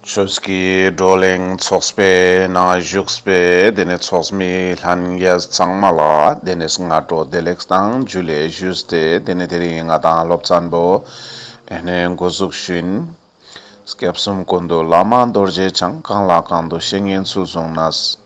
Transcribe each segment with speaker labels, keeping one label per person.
Speaker 1: ཆོས་ཀྱི་བགྲོ་གླེང་ཚོགས་པའི་ནང་བཞུགས་པའི་དེ་ནས་ཚོགས་མི་ལྷན་རྒྱས་ཚང་མ་ལ་དེ་ནས་སྔ་དྲོ་བདེ་ལེགས་དང་རྒྱུ་ལས་བཞུགས་ཏེ་དེ་ནས་དེ་རིང་ང་དང་སློབ་ཚན་པོ་དེ་ནས་འགོ་བཙུགས་ཤིང། སྐྱབས་གསུམ་སྐུ་མདོ་བླ་མ་རྡོ་རྗེ་འཆང་གང་ལ་གང་དུ་བཤད་ཉན་ཚུལ་གསུངས་ན།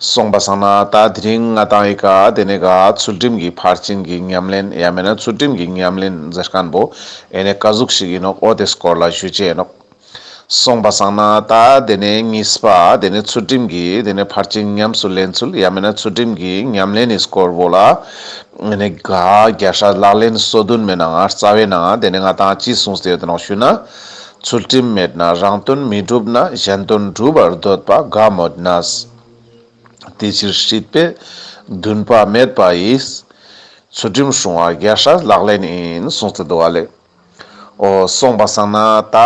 Speaker 1: སོང་པ་བཟང་ན་ད་དེ་རིང་ང་དང་ཨི་ཀ་དེ་ནས་ག་ཚུལ་ཁྲིམས་ཀྱི་ཕར་ཕྱིན་གྱི་ཉམས་ལེན་ཡ་མེད་ན་ཚུལ་ཁྲིམས་ཀྱི་ཉམས་ལེན་མཛད་དཀན་པོ་ཨེ་ནས་བཀའ་གཟུགས་ཤིག་ཡིན་ནོག་ཨོ་དེ་སྐོར་ལ་ཞུ་ཅེས་ནོག། སོང་པ་བཟང་ན་ད་དེ་ནས་གཉིས་པ་དེ་ནས་ཚུལ་ཁྲིམས་ཀྱི་དེ་ནས་ཕར་ཕྱིན་ཉམས་སུ་ལེན་ཚུལ་ཡ་མེད་ན་ཚུལ་ཁྲིམས་ཀྱི་ཉམས་ལེན་ནི་སྐོར་བོ་ལ་ཨེ་ནས་ག་རྒྱ་ཧྲ་ལག་ལེན་སོ་བདུན་མེད་ན་ང་རྩ་བའི་ནང་དེ་ནས་ང་དང་ཅི་གསུངས་ཟེར་ཡོད་དེ་ནོག་ཞུས་ན། ཚུལ་ཁྲིམས་མེད་ན་རང་དོན་མི་འགྲུབ་ན་གཞན་དོན་སྒྲུབ་པར་འདོད་པ་དགའ་མོད་ན། དེ་ཕྱིར་སྲིད་པའི་འདུན་པ་མེད་པ་ཡིས། ཚུལ་ཁྲིམས་སྲུང་བ་རྒྱལ་སྲས་ལག་ལེན་ཡིན་གསུངས་ཚུལ་འདུག་བ་ལས། འོ་གསུངས་པ་བསམ་ན་ད་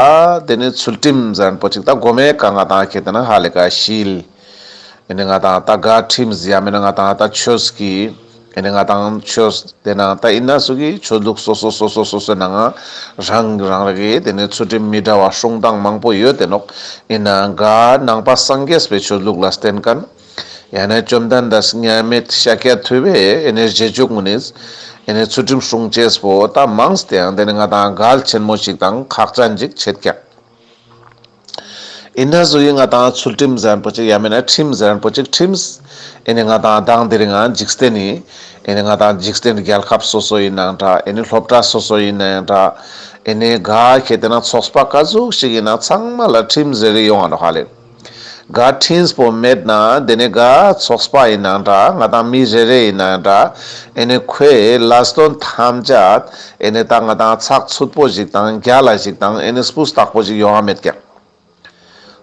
Speaker 1: དེ་ནི་ཚུལ་ཁྲིམས་གཟན་པོ་ཅིག་དང་སྒོ་མེད་ག་ང་དང་ཁྱེད་ནི་ཧ་ལས་ག་ཤིས། ཨེ་ནི་ང་དང་ད་ག་ཁྲིམས་ཟེ་ཡ་མེད་ན་ང་དང་ད་ཆོས་ཀི་ཨེ་ནི་ང་དང་ཆོས་དེ་ན་ད་ཨིན་ན་སུ་གི་ཆོས་ལུགས་སོ་སོ་སོ་སོ་སོ་སོའི་ནང་རང་གི་རང་རེ་གི་དེ་ནི་ཚུལ་ཁྲིམས་མི་འདྲ་བ་བསྲུང་སྟངས་མང་པོ་ཡོད་དེ་ནོག་ཨིན་ན་ག་ནང་པ་སངས་རྒྱས་པའི་ཆོས་ལུགས་ལ་བསྟེན་ག་ནི་ཡ་ན་བཅོམ་ལྡན་འདས་དམྱལ་མེད་ཤཱཀྱ་ཐུབ་པས་ཨེ་ནི་རྗེས་འཇུག་མུ་ནིས་ཨེ་ནི་ཚུལ་ཁྲིམས་བསྲུང་བྱེད་པོ་ད་མང་སྟེ་ཡང་དེ་ནི་ང་དང་ག་ལ་ཆེན་མོ་ཞིག་དང་ཁག་ཅན་ཅིག་བྱེད་ཀྱང། ཨེ་ན་བཟོ་ཡི་ང་དང་ཚུལ་ཁྲིམས་གཟན་པོ་གཅིག་ཡ་མེད་ན་ཁྲིམས་གཟན་པོ་གཅིག་ཁྲིམས། ཨེ་ནི་ང་དང་སྡང་འདིར་ཡང་འཇིག་རྟེན་ནི། ཨེ་ནི་ང་དང་འཇིག་རྟེན་འདི་རྒྱལ་ཁབ་སོ་སོ་ཡིན་ནའང་འདྲ་ཨེ་ནི་སློབ་གྲྭ་སོ་སོ་ཡིན་ན་ཡང་འདྲ། ཨེ་ནི་ག་གེ་དེ་ན་ཚོགས་པ་ཀ་ཟུག་ཞིག་ཡིན་ན་ཚང་མ་ལ་ཁྲིམས་ཟེར་གི་ཡོང་བ་འདྲ་ཧ་ལས། ག་ཁྲིན་སྤོ་མེད་ན་དེ་ནི་ག་ཚོགས་པ་ཡིན་ནའང་འདྲ་ང་དང་མི་རེ་རེ་ཡིན་ན་ཡང་འདྲ་ཨེ་ནི་ཁོས་ལ་སྟོན་ཐམས་ཅད་ཨེ་ནས་ད་ང་དང་ཚགས་ཚུད་པོ་ཞིག་དང་རྒྱ་ལ་ཞིག་དང་ཨེ་ནས་སྤུ་སྟག་པོ་ཞིག་ཡོའང་མེད་ཀྱང།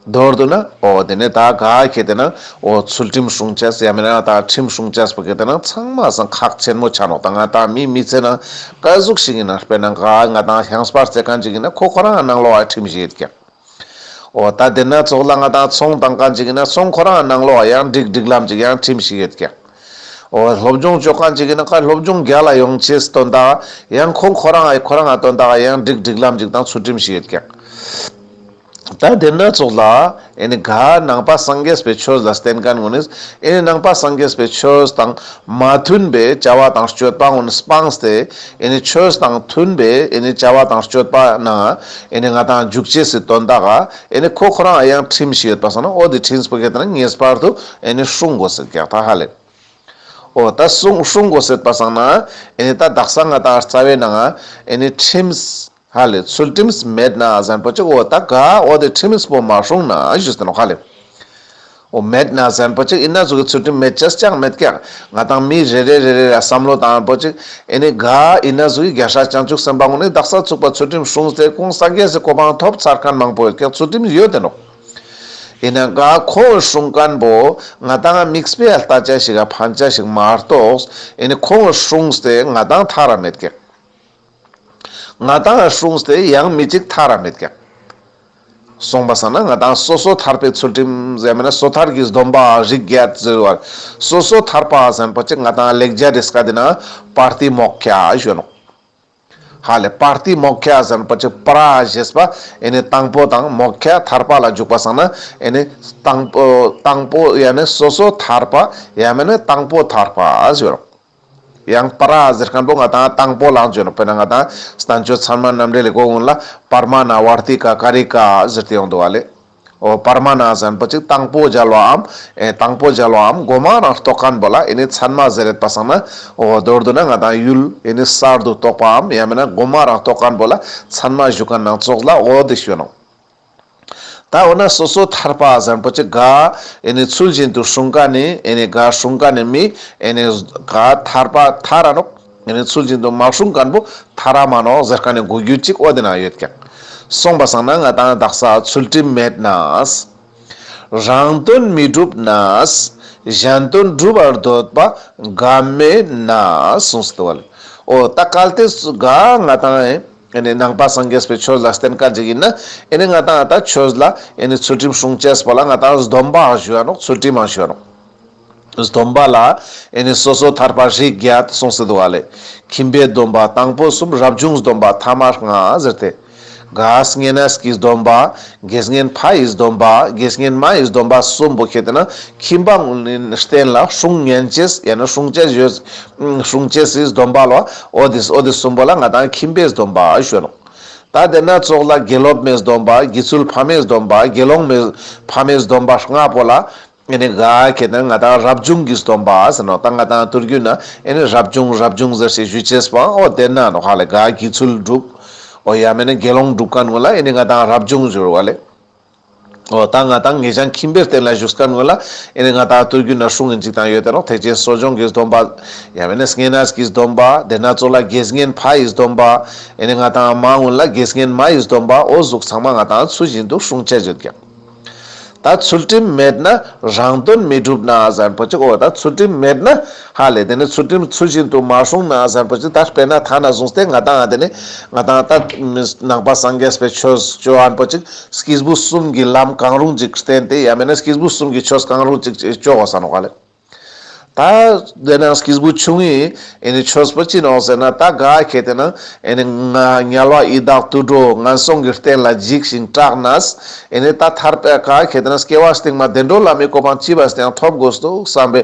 Speaker 1: མདོར་དུ་ན་ཨོ་དེ་ནས་ད་ག་གེ་དེ་ན་ཨོ་ཚུལ་ཁྲིམས་སྲུང་བྱས་ཡ་མེ་ན་ད་ཁྲིམས་སྲུང་བྱས་པོ་གེ་དེ་ན་ཚང་མ་ཟང་ཁག་ཆེན་མོ་ཆ་ནོག་དང་ང་དང་མི་མི་ཚེ་ན་དཀའ་གཟུགས་ཤིག་ཡིན་ན་དཔེར་ན་ག་ང་དང་ཧྱང་སྤར་རྩེ་གང་ཅིག་ཡིན་ན་ཁོ་ཁོ་རང་ནང་ལོག་ཨེ་ཁྲིམས་ཞིག་ཡོད་ཀྱང། འོ་ད་དེ་སྣ་ཚོགས་ལ་ང་དང་ཚོང་དང་གང་ཅིག་ཡིན་ན་ཚོང་ཁོ་རང་ནང་ལོགས་ཡང་འགྲིག་འགྲིག་ལམ་ཅིག་ཡང་ཁྲིམས་ཤིག་ཡོད་ཀྱང། འོ་སློབ་སྦྱོང་ཅོག་གང་ཅིག་ཡིན་ན་ཁ་སློབ་སྦྱོང་རྒྱ་ལ་ཡོང་ཆེས་སྟོན་དག་ཡང་ཁོ་ཁོ་རང་ཨེ་ཁོ་རང་ཨ་སྟོན་དག་ཡང་འགྲིག་འགྲིག་ལམ་ཅིག་དང་ཚུལ་ཁྲིམས་ཤིག་ཡོད་ཀྱང། ད་དེ་སྣ་ཚོགས་ལ་ཨེ་ནི་ག་ནང་པ་སངས་རྒྱས་པའི་ཆོས་ལ་བསྟེན་ག་ནུས་ཨེ་ནི་ནང་པ་སངས་རྒྱས་པའི་ཆོས་དང། མ་མཐུན་པའི་བྱ་བ་དང་སྤྱོད་པ་ངོ་སྤངས་ཏེ་ཆོས་དང་མཐུན་པའི་བྱ་བ་དང་སྤྱོད་པ་ན་ང་དང་འཇུག་བྱེད་སྲིད་དོན་དག་ཁོ་ཁོ་རང་ཡང་ཁྲིམས་ཤིག་ཡོད་པ་སོང་ན་ཨོ་དེ་ཁྲིམས་སྤོ་གལ་ཏེ་ན་ངེས་པར་དུ་སྲུང་དགོས་ཟེར་གག་ད་ཧ་ལས་ཨོ་ད་སྲུང་དགོས་ཟེར་པ་སང་ན་ད་བདག་སང་ང་དང་རྩ་བའི་ན་ཁྲིམས་ཧ་ལས་ཚུལ་ཁྲིམས་མེད་ན་གཟན་པོ་གཅིག་འོ་ད་ག་འོ་དེ་ཁྲིམས་པོ་མ་སྲུང་ན་གཞུ་ཟེར་ནོ་ཧ་ལས། འོ་མེད་ན་གཟན་པོ་གཅིག་ཡིན་ན་གཟུགས་ཀྱི་ཚུལ་ཁྲིམས་མེད་ཅེས་ཀྱང་མི་ཐེག་ང་དང་མི་རེ་རེ་རེ་རེ་ར་བསམ་བློ་དང་པོ་གཅིག་ཨེ་ནི་ག་ཡིན་ན་གཟུགས་ཀྱི་རྒྱ་ཧྲག་བྱང་ཆུབ་སེམས་པ་ངོ་ནི་བདག་སར་ཚུགས་པ་ཚུལ་ཁྲིམས་སྲུང་ཚེ་གོང་ས་རྒྱལ་སྲིད་གོ་འཕང་ཐོབ་ཚར་མཁན་མང་པོ་ཡོད་ཀྱང་ཚུལ་ཁྲིམས་ཡོད་དེ་འགྲོགས་ཡིན་ན་ག་ཁོང་འོས་སྲུང་མཁན་པོ་ང་དང་དམིགས་བསལ་ལྟ་དཔྱད་ཞིག་ག་ཕན་ཆ་ཞིག་མ་རྟོགས་ཨེ་ནི་ཁོང་འོས་སྲུང་ཚེ་ང་དང་ཐག་ར་མེད་ཀྱང། ང་དང་གཞུང་དེ་ཡང་མི་གཅིག་ཐག་ར་མེད་ཀྱང། གསུངས་པ་ཟ་ན་ང་དང་སོ་སོ་ཐར་པའི་ཚུལ་ཁྲིམས་གཞན་མིན་ན་སོ་ཐར་གྱི་སྡོམ་པ་རིགས་བརྒྱད་ཟེར་བར་སོ་སོ་ཐར་པ་གཞན་པོ་གཅིག་ང་དང་ལེགས་སྦྱར་རེས་འགའ་འདི་ན་པརྟི་མོག་ཁྱ་གཞོན་ནུ་ཧ་ལས་པརྟི་མོག་ཁྱ་གཞན་པོ་གཅིག་པར་ར་ཞེས་པ་ཨེ་ནི་དང་པོ་དང་མོག་ཁྱ་ཐར་པ་ལ་འཇུག་པ་ཟ་ན་ཨེ་ནི་དང་པོ་དང་པོ་ཡང་མིན་སོ་སོ་ཐར་པ་ཡང་མིན་ན་དང་པོ་ཐར་པ་ཟེར་རོ། ཡང་པར་ར་གཟེར་སྐམ་པོ་ལྔ་དང་དང་པོ་ལག་འཇོ་ལག་པད་ན་ལྔ་དང་ཟླ་མཆོད་ཚར་མ་ནམ་རེ་ལས་གོ་འོན་ལ་པར་མ་ན་བར་ཏི་ཀ་ཀ་རི་ཀ་ཟེར་ཏེ་ཡོང་འདུག་བ་ལས། འོ་པར་མ་ན་གཟན་པོ་གཅིག་དང་པོ་སྦྱར་བ་འམ། ཨེ་དང་པོ་སྦྱར་བ་འམ་སྒོ་མང་རང་རྟོགས་སྐམ་པོ་ལ་ཨེ་ནི་ཚར་མ་ཟེར་རེད་པ་སང་ན། འོ་མདོར་བསྡུ་ན་ང་དང་ཡུལ་ཨེ་ནི་གསར་དུ་རྟོགས་པ་འམ་ཡང་མིན་ན་སྒོ་མང་རང་རྟོགས་སྐམ་པོ་ལ་ཚར་མ་བཞུགས་སྐམ་ནང་ཙོགས་ལ་འོ་འདི་ཞོན་ནོ། ད་འོ་ན་སོ་སོ་ཐར་པ་བཟང་པོ་ཅི་དགའ། ཨེ་ནས་ཚུལ་བཞིན་དུ་སྲུང་དཀའ་ནི། ཨེ་ནས་དགའ་སྲུང་དཀའ་ནི་མི། ཨེ་ནས་དགའ་ཐར་པ་ཐ་ར་ནོག། ཨེ་ནས་ཚུལ་བཞིན་དུ་མ་སྲུང་དཀར་པོ་ཐ་ར་མ་ནོག་ཟེར་ཀ་ནི་གོ་རྒྱུ་ཅིག་ཨོ་དེ་ན་ཡོད་ཀྱང། གསུངས་པ་བཟང་ན་ང་དང་བདག་ས་ཚུལ་ཁྲིམས་མེད་ན། རང་དོན་མི་སྒྲུབ་ན། གཞན་དོན་སྒྲུབ་པར་འདོད་པ་དགའ་མེད་ན། གསུངས་སོ་དེ་བ་ལས། ཨོ་ད་གལ་ཏེ་དགའ་ང་དང། ཨེ་ནས་ནང་པ་སངས་རྒྱས་པའི་ཆོས་ལ་བསྟན་དཀའ་འཇིག་ཡིན་ན། ཨེ་ནས་ང་དང་ཨ་ཏག་ཆོས་ལ་ཨེ་ནས་ཚུལ་ཁྲིམས་སྲུང་བཅས་པ་ལ་ང་དང་སྡོམ་པའང་ཞུ་ཡ་ནོག་ཚུལ་ཁྲིམས་འང་ཞུ་ཡ་ནོག། སྡོམ་པ་ལ་ཨེ་ནས་སོ་སོ་ཐར་པ་བཞི་བརྒྱ་ད་གསུངས་སི་འདུག་ཨ་ལས། ཁྱིམ་པའི་སྡོམ་པ་དང་པོ་གསུམ་རབ་བྱུང་སྡོམ་པ་ཐ་མར་ང་ཟེར་ཏེ། དགའ་བསྙེན་ཨེས་ཀྱི་སྡོམ་པ། དགེ་བསྙེན་ཕ་ཡི་སྡོམ་པ་དགེ་བསྙེན་མ་ཡི་སྡོམ་པ་གསུམ་པོ་ཁྱེད་ན་ཁྱིམ་པ་ངོ་ནས་བསྟན་ལ་སྲུང་བསྙེན་བཅས་ཡ་ན་སྲུང་བཅས་བཞི། གསུང་བཅས་སྲིད་སྡོམ་པ་ལ་ཨོ་དི་ཨོ་དི་གསུམ་པོ་ལ་ང་དང་ཁྱིམ་པས་སྡོམ་པ་ཞུ་རོགས། ད་དེ་སྣ་ཚོགས་ལ་དགེ་སློབ་མའི་སྡོམ་པ་དགེ་ཚུལ་ཕ་མའི་སྡོམ་པ་དགེ་སློང་མའི་ཕ་མའི་སྡོམ་པ་ལྔ་པོ་ལ་ཨེ་ནི་ག་ཁྱེད་དང་ང་དང་རབ་བྱུང་གི་སྡོམ་པ་ཟེར་ནོ་ད་ང་དང་བསྟུར་རྒྱུ་ན་ཨེ་ནི་རབ་བྱུང་རབ་བྱུང་ཟེར་ཞེས་ཞུས་བྱས་པ་ཨོ་དེ་ན་ནོ་ཧ་ལས་ག་དགེ་ཚུལ་བསྒྲུབ། ཨོ་ཡ་མེད་ན་དགེ་སློང་བསྒྲུབ་ག་ནུས་ལ་ཨེ་ནི་ང་དང་རབ་བྱུང་ཞུ་རོགས་ཨ་ལས། འོ་ད་ང་དང་ངེད་ཅག་ཁྱིམ་པའི་སྟེང་ལ་བཞུགས་སྐབས་ངོས་ལ་ཨེ་ནས་ང་ད་ལྟ་རྒྱུད་ན་ཧྲུལ་ངེ་འཇིག་དང་ཡོད་དེ་རོགས་ཐེག་ཆེན་གསོ་སྦྱོང་གིས་སྡོམ་པ། ཡ་བེ་ནས་ངན་ནས་གིས་སྡོམ་པ། དེ་ན་ཙོ་ལ་དགེས་ངན་ཕ་ཡིས་སྡོམ་པ། ཨེ་ནས་ང་དང་ཨ་མ་ཨུན་ལ་དགེས་ངན་མ་ཡིས་སྡོམ་པ་ཨོ་གཟུགས་ཚང་མ་ང་དང་ཚུལ་བཞིན་དུ་ཧྲུང་ཅེ་བརྗོད་ཀྱང། ད་ཚུལ་ཁྲིམས་མེད་ན་རང་དོན་མི་འགྲུབ་ན་བཟང་པོ་ཅིག་ཨོ་ད་ཚུལ་ཁྲིམས་མེད་ན། ཧ་ལས་དེ་ནི་ཚུལ་ཁྲིམས་ཚུལ་བཞིན་དུ་མ་བསྲུངས་ན་གཟར་བུ་ཅི་ལྟར་སྤེལ་ན་ཐ་ན་བཟུང་སྟེ་ང་དང་དེ་ནི་ང་དང་ལྟ་མི་ནང་པ་སངས་རྒྱས་པའི་ཆོས་སྤྱོད་ཨ་འཕོ་ཅིག་སྐྱིས་བུ་གསུམ་གྱི་ལམ་གང་རུང་ཅིག་བསྟེན་ཏེ་ཡང་མེད་ན་སྐྱིས་བུ་གསུམ་གྱི་ཆོས་གང་རུང་ཅིག་ཅེས་སྤྱོ་བ་ཟ་ནོ་ག་ལས། ད་དེ་ན་སྐྱིས་བུ་ཆུང་ངུས་ཨེ་ནི་ཆོས་སྤོ་ཅི་ནོ་ཟེར་ན་ད་ག་གེ་དེ་ན་ཨེ་ནི་ང་ཉལ་བ་ཡི་དྭགས་དུད་འགྲོ་ང་སོང་གི་སྟེན་ལ་འཇིགས་ཤིང་སྐྲག་ནས་ཨེ་ནི་ད་ཐར་པས་ག་གེ་དེ་ན་སྐྱེ་བ་སྟེང་མ་བདེ་འགྲོ་ལ་མི་གོ་འཕང་ཅི་བས་ཀྱང་ཐོབ་དགོས་སོ་བསམ་པས་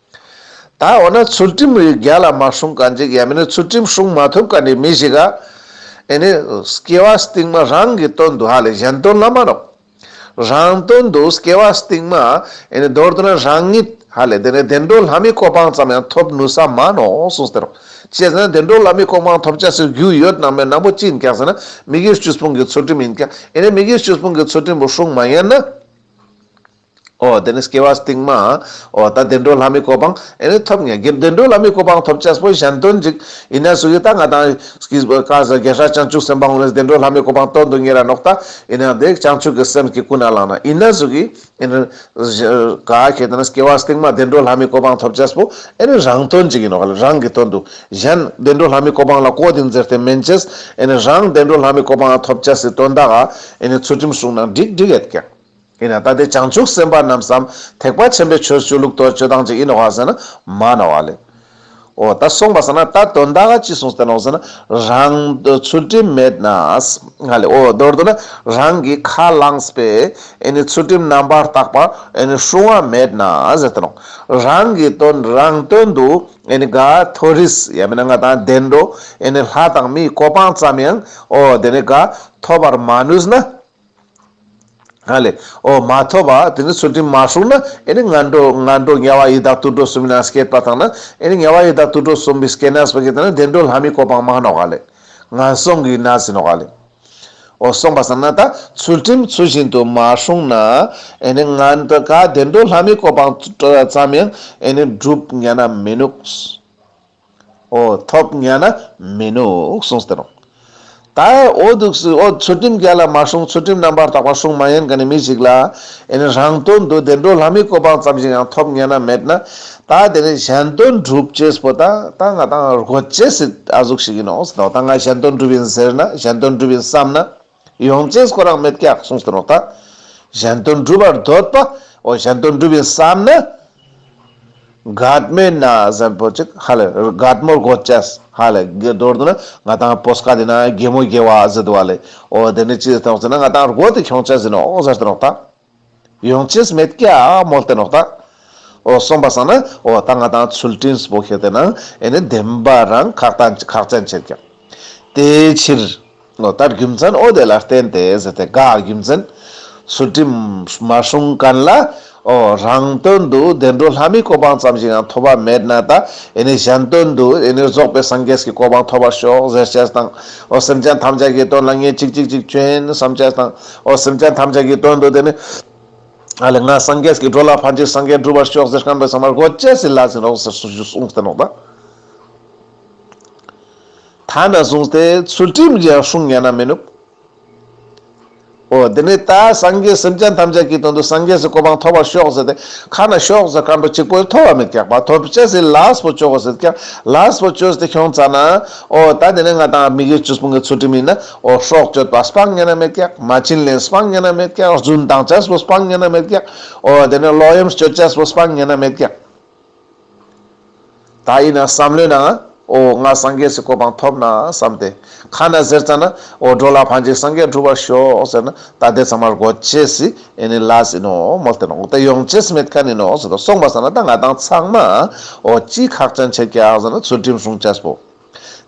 Speaker 1: ད་འོ་ན་ཚུལ་ཁྲིམས་རིགས་བརྒྱ་ལ་མ་སྲུང་ག་འཇིག་ཡ་མི་ནི་ཚུལ་ཁྲིམས་སྲུང་མ་ཐུབ་ག་འདི་མི་ཞིག་ག་ཨེ་ནི། སྐྱེ་བ་སྟིང་མ་རང་གི་དོན་དུ་ཧ་ལས་གཞན་དོན་ལ་མ་རོག། རང་དོན་དུ་སྐྱེ་བ་སྟིང་མ་ཨེ་ནི་འདོར་དུ་ན་རང་ཉིད་ཧ་ལས་དེ་ནས་བདེ་འགྲོ་ལྷ་མི་གོ་འཕང་ཙམ་ཡང་ཐོབ་ནུས་ས་མ་ནོ་གསུངས་ཟེར་རོ། བྱས་ཟིན་ན་བདེ་འགྲོ་ལྷ་མི་གོ་འཕང་ཐོབ་བྱ་སའི་རྒྱུ་ཡོད་ནང་མའི་ནང་པོ་ཅི་ཡིན་ཀྱང་ཟེར་ན་མི་དགེ་བཅུ་སྤོང་གི་ཚུལ་ཁྲིམས་ཡིན་ཀྱང་ཨེ་ནི་མི་དགེ་བཅུ་སྤོང་གི་ཚུལ་ཁྲིམས་བུ་སྲུང་མ་ཡིན་ན། ཨོ་དེ་ནི་སྐྱེ་བ་རྟིང་མ། ཨོ་ད་བདེ་འགྲོ་ལྷ་མིའི་གོ་འཕང། ཨེ་ནི་ཐོབ་ངེས་ཀྱི་བདེ་འགྲོ་ལྷ་མིའི་གོ་འཕང་ཐོབ་བྱ་སྤོས་གཞན་དོན་འཇིག། ཡིན་ན་སུ་ཡི་ད་ང་དང། ཀྱིས། བཀའ་སྩལ་རྒྱལ་སྲས་བྱང་ཆུབ་སེམས་དཔའ་ངོ་ནི་བདེ་འགྲོ་ལྷ་མིའི་གོ་འཕང་སྟོན་དུ་ངེས་ར་ནོག་ད། ཡིན་ཡང་དེ་བྱང་ཆུབ་ཀྱི་སེམས་ཀྱི་སྐུ་ན་ལངས་ན་ཡིན་ན་སུ་གྱིས། ཨེ་ནི། བཞི། ག་གེ་དེ་ནི་སྐྱེ་བ་རྟིང་མ་བདེ་འགྲོ་ལྷ་མིའི་གོ་འཕང་ཐོབ་བྱ་སྤོས། ཨེ་ནི་རང་དོན་འཇིག་ཡིན་ནོ་ག་ལ་རང་གི་དོན་དུ། གཞན། བདེ་འགྲོ་ལྷ་མིའི་གོ་འཕང་ལ་ཀོ་དིང་འཛེར་ཏེ་མན་ཆད། ཨེ་ནི་རང་བདེ་འགྲོ་ལྷ་མིའི་གོ་འཕང་ཐོབ་བྱ་སྲིད་དོན་དག། ཨེ་ནི་ཚུལ་ཁྲིམས་བསྲུངས་ན་འགྲིག་འགྲིག་ཨེ་ཀྱང། ཡིན་ན་ད་ལྟའི་བྱང་ཆུབ་སེམས་དཔའ་རྣམས་སམ་ཐེག་པ་ཆེན་པོའི་ཆོས་སྤྱོད་ལུགས་གཏོར་སྤྱོད་སྟངས་ཅིག་ཡིན་ནོ་ཟེར་ན་མ་ན་བ་ལེ། འོ་ད་གསུངས་པ་ཟེར་ན་ད་དོན་དག་ག་ཅི་གསུངས་བསྟན་ནོ་ཟེར་ན་རང། ཚུལ་ཁྲིམས་མེད་ན། ང་ལས་འོ་མདོར་བསྡུ་ན་རང་གིས་ཁ་བླངས་པའི་ཨེ་ནི་ཚུལ་ཁྲིམས་རྣམ་པར་དག་པ་ཨེ་ནི་སྲུང་བ་མེད་ན་ཟེར་བསྟན་ནོ། རང་གི་དོན་རང་སྟོན་དུ་ཨེ་ནི་དགའ་མཐོ་རིས་ཡང་མིན་ན་ང་དང་བདེ་འགྲོ་ཨེ་ནི་ལྷ་དང་མིའི་གོ་འཕང་ཙམ་ཡང་འོ་དེ་ནི་དགའ་མཐོ་བར་མ་ནུས་ན། ཨ་ལེ། ཨོ་མ་ཐོ་བ། དེ་ནི་ཚུལ་ཁྲིམས་མ་ཧྲུག་ན་ཨེ་ནི་ང་འགྲོ་ང་འགྲོ་དམྱལ་བ་ཡི་དྭགས་དུར་ཁྲོད་གསུམ་ན་སྐྱེས་པ་དང་ན་ཨེ་ནི་དམྱལ་བ་ཡི་དྭགས་དུར་ཁྲོད་གསུམ་པའི་སྐྱེས་ན་སྤུ་གི་དང་ན་བདེ་འགྲོ་ལྷ་མིའི་གོ་འཕང་མ་ནོག་ཨ་ལེ། ང་སོང་གི་ན་ཟི་ནོག་ཨ་ལེ། ཨོ་སོང་བ་སང་ན་ད་ཚུལ་ཁྲིམས་ཚུལ་བཞིན་དུ་མ་ཧྲུག་ན་ཨེ་ནི་ང་འདི་ག་བདེ་འགྲོ་ལྷ་མིའི་གོ་འཕང་ཙམ་ཡང་ཨེ་ནི་བསྒྲུབ་དམྱལ་ན་མི་ནུགས། ཨོ་ཐོབ་ཉལ་ན་མི་ནུས་གསུངས་སྟེ་རུང་དྭའི་ཨོ་འདུག་སི་ཨོ་ཚུལ་ཁྲིམས་རྒྱལ་ལ་མ་བསྲུངས་ཚུལ་ཁྲིམས་རྣམ་པར་དག་པ་སྲུང་མ་ཡིན་ག་ནི་མི་ཞིག་ལ་ཡིན་རང་དོན་དུ་བདེ་འགྲོ་ལྷ་མིའི་གོ་འཕང་ཙམ་ཞིག་ཡང་ཐོབ་ཉལ་ན་མེད་ན་ད་དེ་ནི་གཞན་དོན་སྒྲུབ་བྱེད་པོ་ད་ད་ང་དང་རྒོད་བྱེད་སྲིད་ཨ་གཟུགས་ཤིག་ཡིན་ནོ་སི་ཐོག་ད་ང་གཞན་དོན་སྒྲུབ་ཡིན་ཟེར་ན་གཞན་དོན་སྒྲུབ་ཡིན་བསམ་ན། ཡོངས་ཅན་སྐུ་རང་མེད་སྐྱེ་བ་གསུངས་སུ་རོ། གཞན་དོན་སྒྲུབ་པར་འདོད་པ་འོ་གཞན་དོན་སྒྲུབ་པའི་བསམ་ན། སྒྲ་མེད་ན་གཟན་པོ་གཅིག་ཧ་ལས་སྒྲ་མོར་གོ་ཅེས་ཧ་ལས་དགེ་རྡོར་དུ་ན་ང་དང་པོ་སྐ་དེ་ན་རྒྱལ་མོ་རྒྱལ་བ་བཟི་དུ་བ་ལས་འོ་དེ་ནི་ཅི་ལྟ་བར་ཟེར་ན་ང་དང་རྒོད་དེ་ཁྱོང་ཅག་བཟི་ནོ་ཟེར་དུ་རོགས་ད། ཡོངས་ཅིས་མེད་ཀྱྀ་མོ་སྟེ་ནོག་དག། འོ་གསུངས་པ་སང་ན་འོ་ད་ང་དང་ཚུལ་ཁྲིམས་སྤོ་ཁེ་དེ་ན་ཨེ་ནི་བདེན་པ་རང་ཁག་དང་ཁག་ཅན་བྱེད་ཀྱང། དེའི་ཕྱིར། འོ་ད་རྒྱུ་མཚན་འོ་དེ་ལ་བརྟེན་ཏེ་ཟེར་ཏེ་དགག་རྒྱུ་མཚན། ཚུལ་ཁྲིམས་མ་བསྲུངས་ག་ལ། འོ་རང་དོན་དུ་བདེ་འགྲོ་ལྷ་མིའི་གོ་འཕང་ཙམ་ཞིག་ཡང་ཐོབ་པ་མེད་ན་ད་ཨེ་ནི་གཞན་དོན་དུ་ཨེ་ནི་རྫོགས་པའི་སངས་རྒྱས་ཀྱི་གོ་འཕང་ཐོབ་པར་ཤོག་ཟེར་བྱས་སུ་དང། འོ་སེམས་ཅན་ཐམས་ཅད་ཀྱི་དོན་ལ་ངེད་ཅིག་ཅིག་ཅིག་སྐྱོན་བསམ་བྱས་སུ་དང། ཨོ་སེམས་ཅན་ཐམས་ཅད་ཀྱི་དོན་དུ་དེ་ནི། ཨ་ལས་ངའི་སངས་རྒྱས་ཀྱིས་འགྲོ་ལ་ཕན་ཕྱིར་སངས་རྒྱས་བསྒྲུབ་པར་ཤོག་ཟེར་ཁང་པའི་ཟ་མར་སྒོ་བཅད་ཟིན་ལགས་ཟིན་རོགས་ཟེར་གསུངས་ཞུས་གསུངས་ཟེར་ནོག་ད། ཐ་ན་གསུངས་ཏེ་ཚུལ་ཁྲིམས་ཀྱི་ཡང་སྲུང་ཉན་ན་མི་ནུབ། ཨོ་དེ་ནི་ད་སངས་རྒྱས་སེམས་ཅན་ཐམས་ཅད་ཀྱི་དོན་དུ་སངས་རྒྱས་སུ་གོ་འཕང་ཐོབ་པར་ཤོག་ཟེར་ཏེ་ཁ་ན་ཤོག་ཟེར་སྐར་འགྲོ་གཅིག་པོས་ཐོ་བ་མི་རྐྱག་པ་ཐོ་བཅད་ཟིན་ལགས་པོ་བཅོག་གོ་ཟེར་ཀྱང་ལགས་པོ་བཅོས་ཏེ་ཤོང་ཙ་ན། ཨོ་ད་དེ་ནི་ང་དང་ཨ་མི་གི་ཆུ་སྤུན་གྱི་ཚུལ་ཁྲིམས་ཡིན་ན། ཨོ་སྲོག་གཅོད་པ་སྤང་གཉེན་རྨེད་སྐྱག་མ་བྱིན་ལེན་སྤང་གཉེན་རྨེད་སྐྱག་རྫུན་གཏང་བྱ་སྤོ་སྤང་གཉེན་རྨེད་སྐྱག་ཨོ་དེ་ནས་ལོག་གཡེམ་སྤྱོད་བྱ་སྤོ་སྤང་གཉེན་རྨེད་སྐྱག། ད་ཡིན་ན་བསམ་བློའི་ནང་ཨོ་ང་སངས་རྒྱས་སུ་གོ་འཕང་ཐོབ་ན་བསམ་སྟེ་ཁ་ན་ཟེར་ཙང་ན་ཨོ་འགྲོ་ལ་ཕངས་ཅིག་སངས་རྒྱས་འགྲུབ་བར་ཤོག་ཟེར་ན་ད་དེ་ཚང་མར་གོ་ཆེ་སི་ཨེ་ནི་ལ་སི་ནོ་མོ་སྟེ་ནོག་སྟེ་ཡོང་ཆེ་སི་མེད་ཁ་ནི་ནོག་སི་ཏོ་སོང་བ་ཟ་ན་ད་ང་དང་ཚང་མ་ཨོ་ཅི་ཁག་ཅན་ཆེ་སྐྱག་ཟ་ན་ཚུལ་ཁྲིམས་སྲུང་བྱ་སྤོ།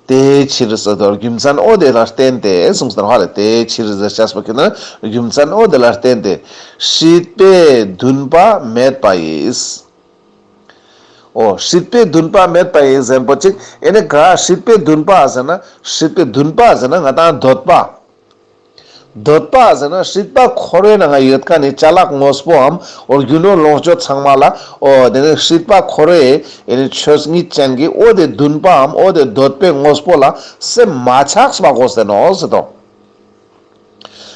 Speaker 1: དེའི་ཕྱིར་ཟེར་དོ། རྒྱུ་མཚན་ཨོ་དེ་ལ་བརྟེན་ཏེ་གསུངས་ཟེར་བ་ལས་དེའི་ཕྱིར་ཟེར་བྱ་ཞེས་པ་ཁྱོད་ནི་རྒྱུ་མཚན་ཨོ་དེ་ལ་བརྟེན་ཏེ་སྲིད་པའི་འདུན་པ་མེད་པ་ཡིས། ཨོ། སྲིད་པའི་འདུན་པ་མེད་པ་ཡིས་ཟེར་བ་ཅིག་ཨེ་ནི་གཱ། སྲིད་པའི་འདུན་པ་ཟེར་ན་སྲིད་པའི་འདུན་པ་ཟེར་ན་ང་དང་འདོད་པ། འདོད་པ་ཟེར་ན་སྲིད་པ་འཁོར་བའི་ནང་ཡོད་ཀ་ནི་བྱ་གླག་དངོས་པོའམ་རྒྱུ་ནོར་ལོངས་སྤྱོད་ཚང་མ་ལ་ཨོ་དེ་ནི་སྲིད་པ་འཁོར་བའི་ཆོས་ཉིད་ཅན་གྱི་ཨོ་དེ་འདུན་པའམ་ཨོ་དེ་འདོད་པའི་དངོས་པོ་ལ་སེམས་མ་ཆགས་པ་གོ་ཟེར་ནོ་སྲིད་དོ།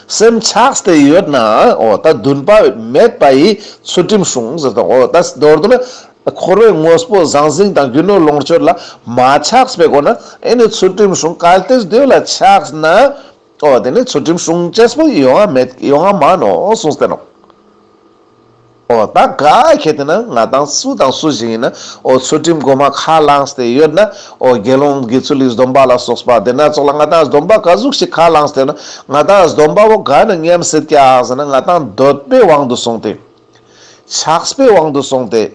Speaker 1: སེམས་ཆགས་དེ་ཡོད་ན་ཨོ་ད་འདུན་པ་མེད་པ་ཡི་ཚུལ་ཁྲིམས་བྱུང་ཟེར་དོ་ཨོ་ད་རྡོར་དུ་ན། འཁོར་བའི་དངོས་པོ་ཟང་ཟིང་དང་རྒྱུ་ནོར་ལོངས་སྤྱོད་ལ་མ་ཆགས་པའི་སྒོ་ནས་ཨེ་ནི་ཚུལ་ཁྲིམས་གཞུང་གལ་ཏེ་བདུད་ལ་ཆགས་ན། ཨོ་དེ་ནི་ཚུལ་ཁྲིམས་གཞུང་གཅེས་པོ་ཡོད་ཡང་མེད་ཡོད་ཡང་མ་ནོ་གསུངས་བསྟན་ནོ། ཨོ་ད་ག་གལ་ཏེ་ན་ང་དང་སུ་དང་སུ་ཞིག་ཡིན་ན་ཨོ་ཚུལ་ཁྲིམས་སྒོ་མ་ཁ་བླངས་ཏེ་ཡོད་ན་ཨོ་དགེ་སློང་དགེ་ཚུལ་ལས་སྡོམ་པ་ལ་སོགས་པ་དེ་སྣ་ཚོགས་ལ་ང་དང་སྡོམ་པ་ག་གཟུགས་ཤིག་ཁ་བླངས་ཏེ་ན་ང་དང་སྡོམ་པ་བོ་ག་ནི་སྙམ་སྲིད་ཀྱང་ཟེར་ན་ང་དང་འདོད་པའི་དབང་དུ་སོང་སྟེ། ཆགས་པའི་དབང་དུ་སོང་སྟེ།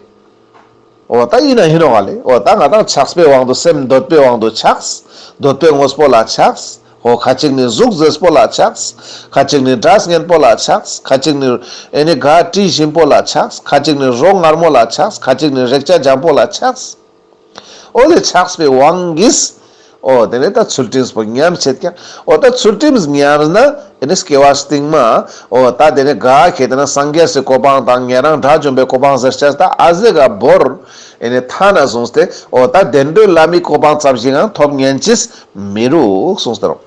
Speaker 1: འོ་ད་ཡིན་ན་ཡིན་ནོ་ག་ལས་འོ་ད་ང་དང་ཆགས་པའི་དབང་དུ་སེམས་འདོད་པའི་དབང་དུ་ཆགས། འདོད་པའི་དངོས་པོ་ལ་ཆགས། ཧོ་ཁ་ཅིག་ནི་གཟུགས་མཛེས་པོ་ལ་ཆགས། ཁ་ཅིག་ནི་སྒྲ་སྙན་པོ་ལ་ཆགས། ཁ་ཅིག་ནི་ཨེ་ནི་ག་དྲི་ཞིམ་པོ་ལ་ཆགས། ཁ་ཅིག་ནི་རོ་མངར་མོ་ལ་ཆགས། ཁ་ཅིག་ནི་རེག་བྱ་འཇམ་པོ་ལ་ཆགས། ཨོ་ལེ་ཆགས་པའི་དབང་གིས། ཨོ་དེ་ནས་ད་ཚུལ་ཁྲིམས་བོ་ཉམས་བྱེད་ཀྱང། ཨོ་ད་ཚུལ་ཁྲིམས་ཉམས་ན་དེ་ནས་སྐྱེ་བ་སྟེང་མ། ཨོ་ད་དེ་ནས་དགའ་ཁྱེད་དེ་ན་སངས་རྒྱས་སུའི་གོ་འཕང་དང་ཉན་རང་དགྲ་བཅོམ་པའི་གོ་འཕང་ཟེར་བྱས་ད་ཨ་ཟེ་ག་བོར། དེ་ནས་ཐ་ན་གསུངས་སྟེ་ཨོ་ད་བདེ་འགྲོའི་བླ་མའི་གོ་འཕང་རྩ་བཞིའང་ཐོབ་ཉན་ཅིས་མི་རུག་གསུངས་སྟེ་རོ།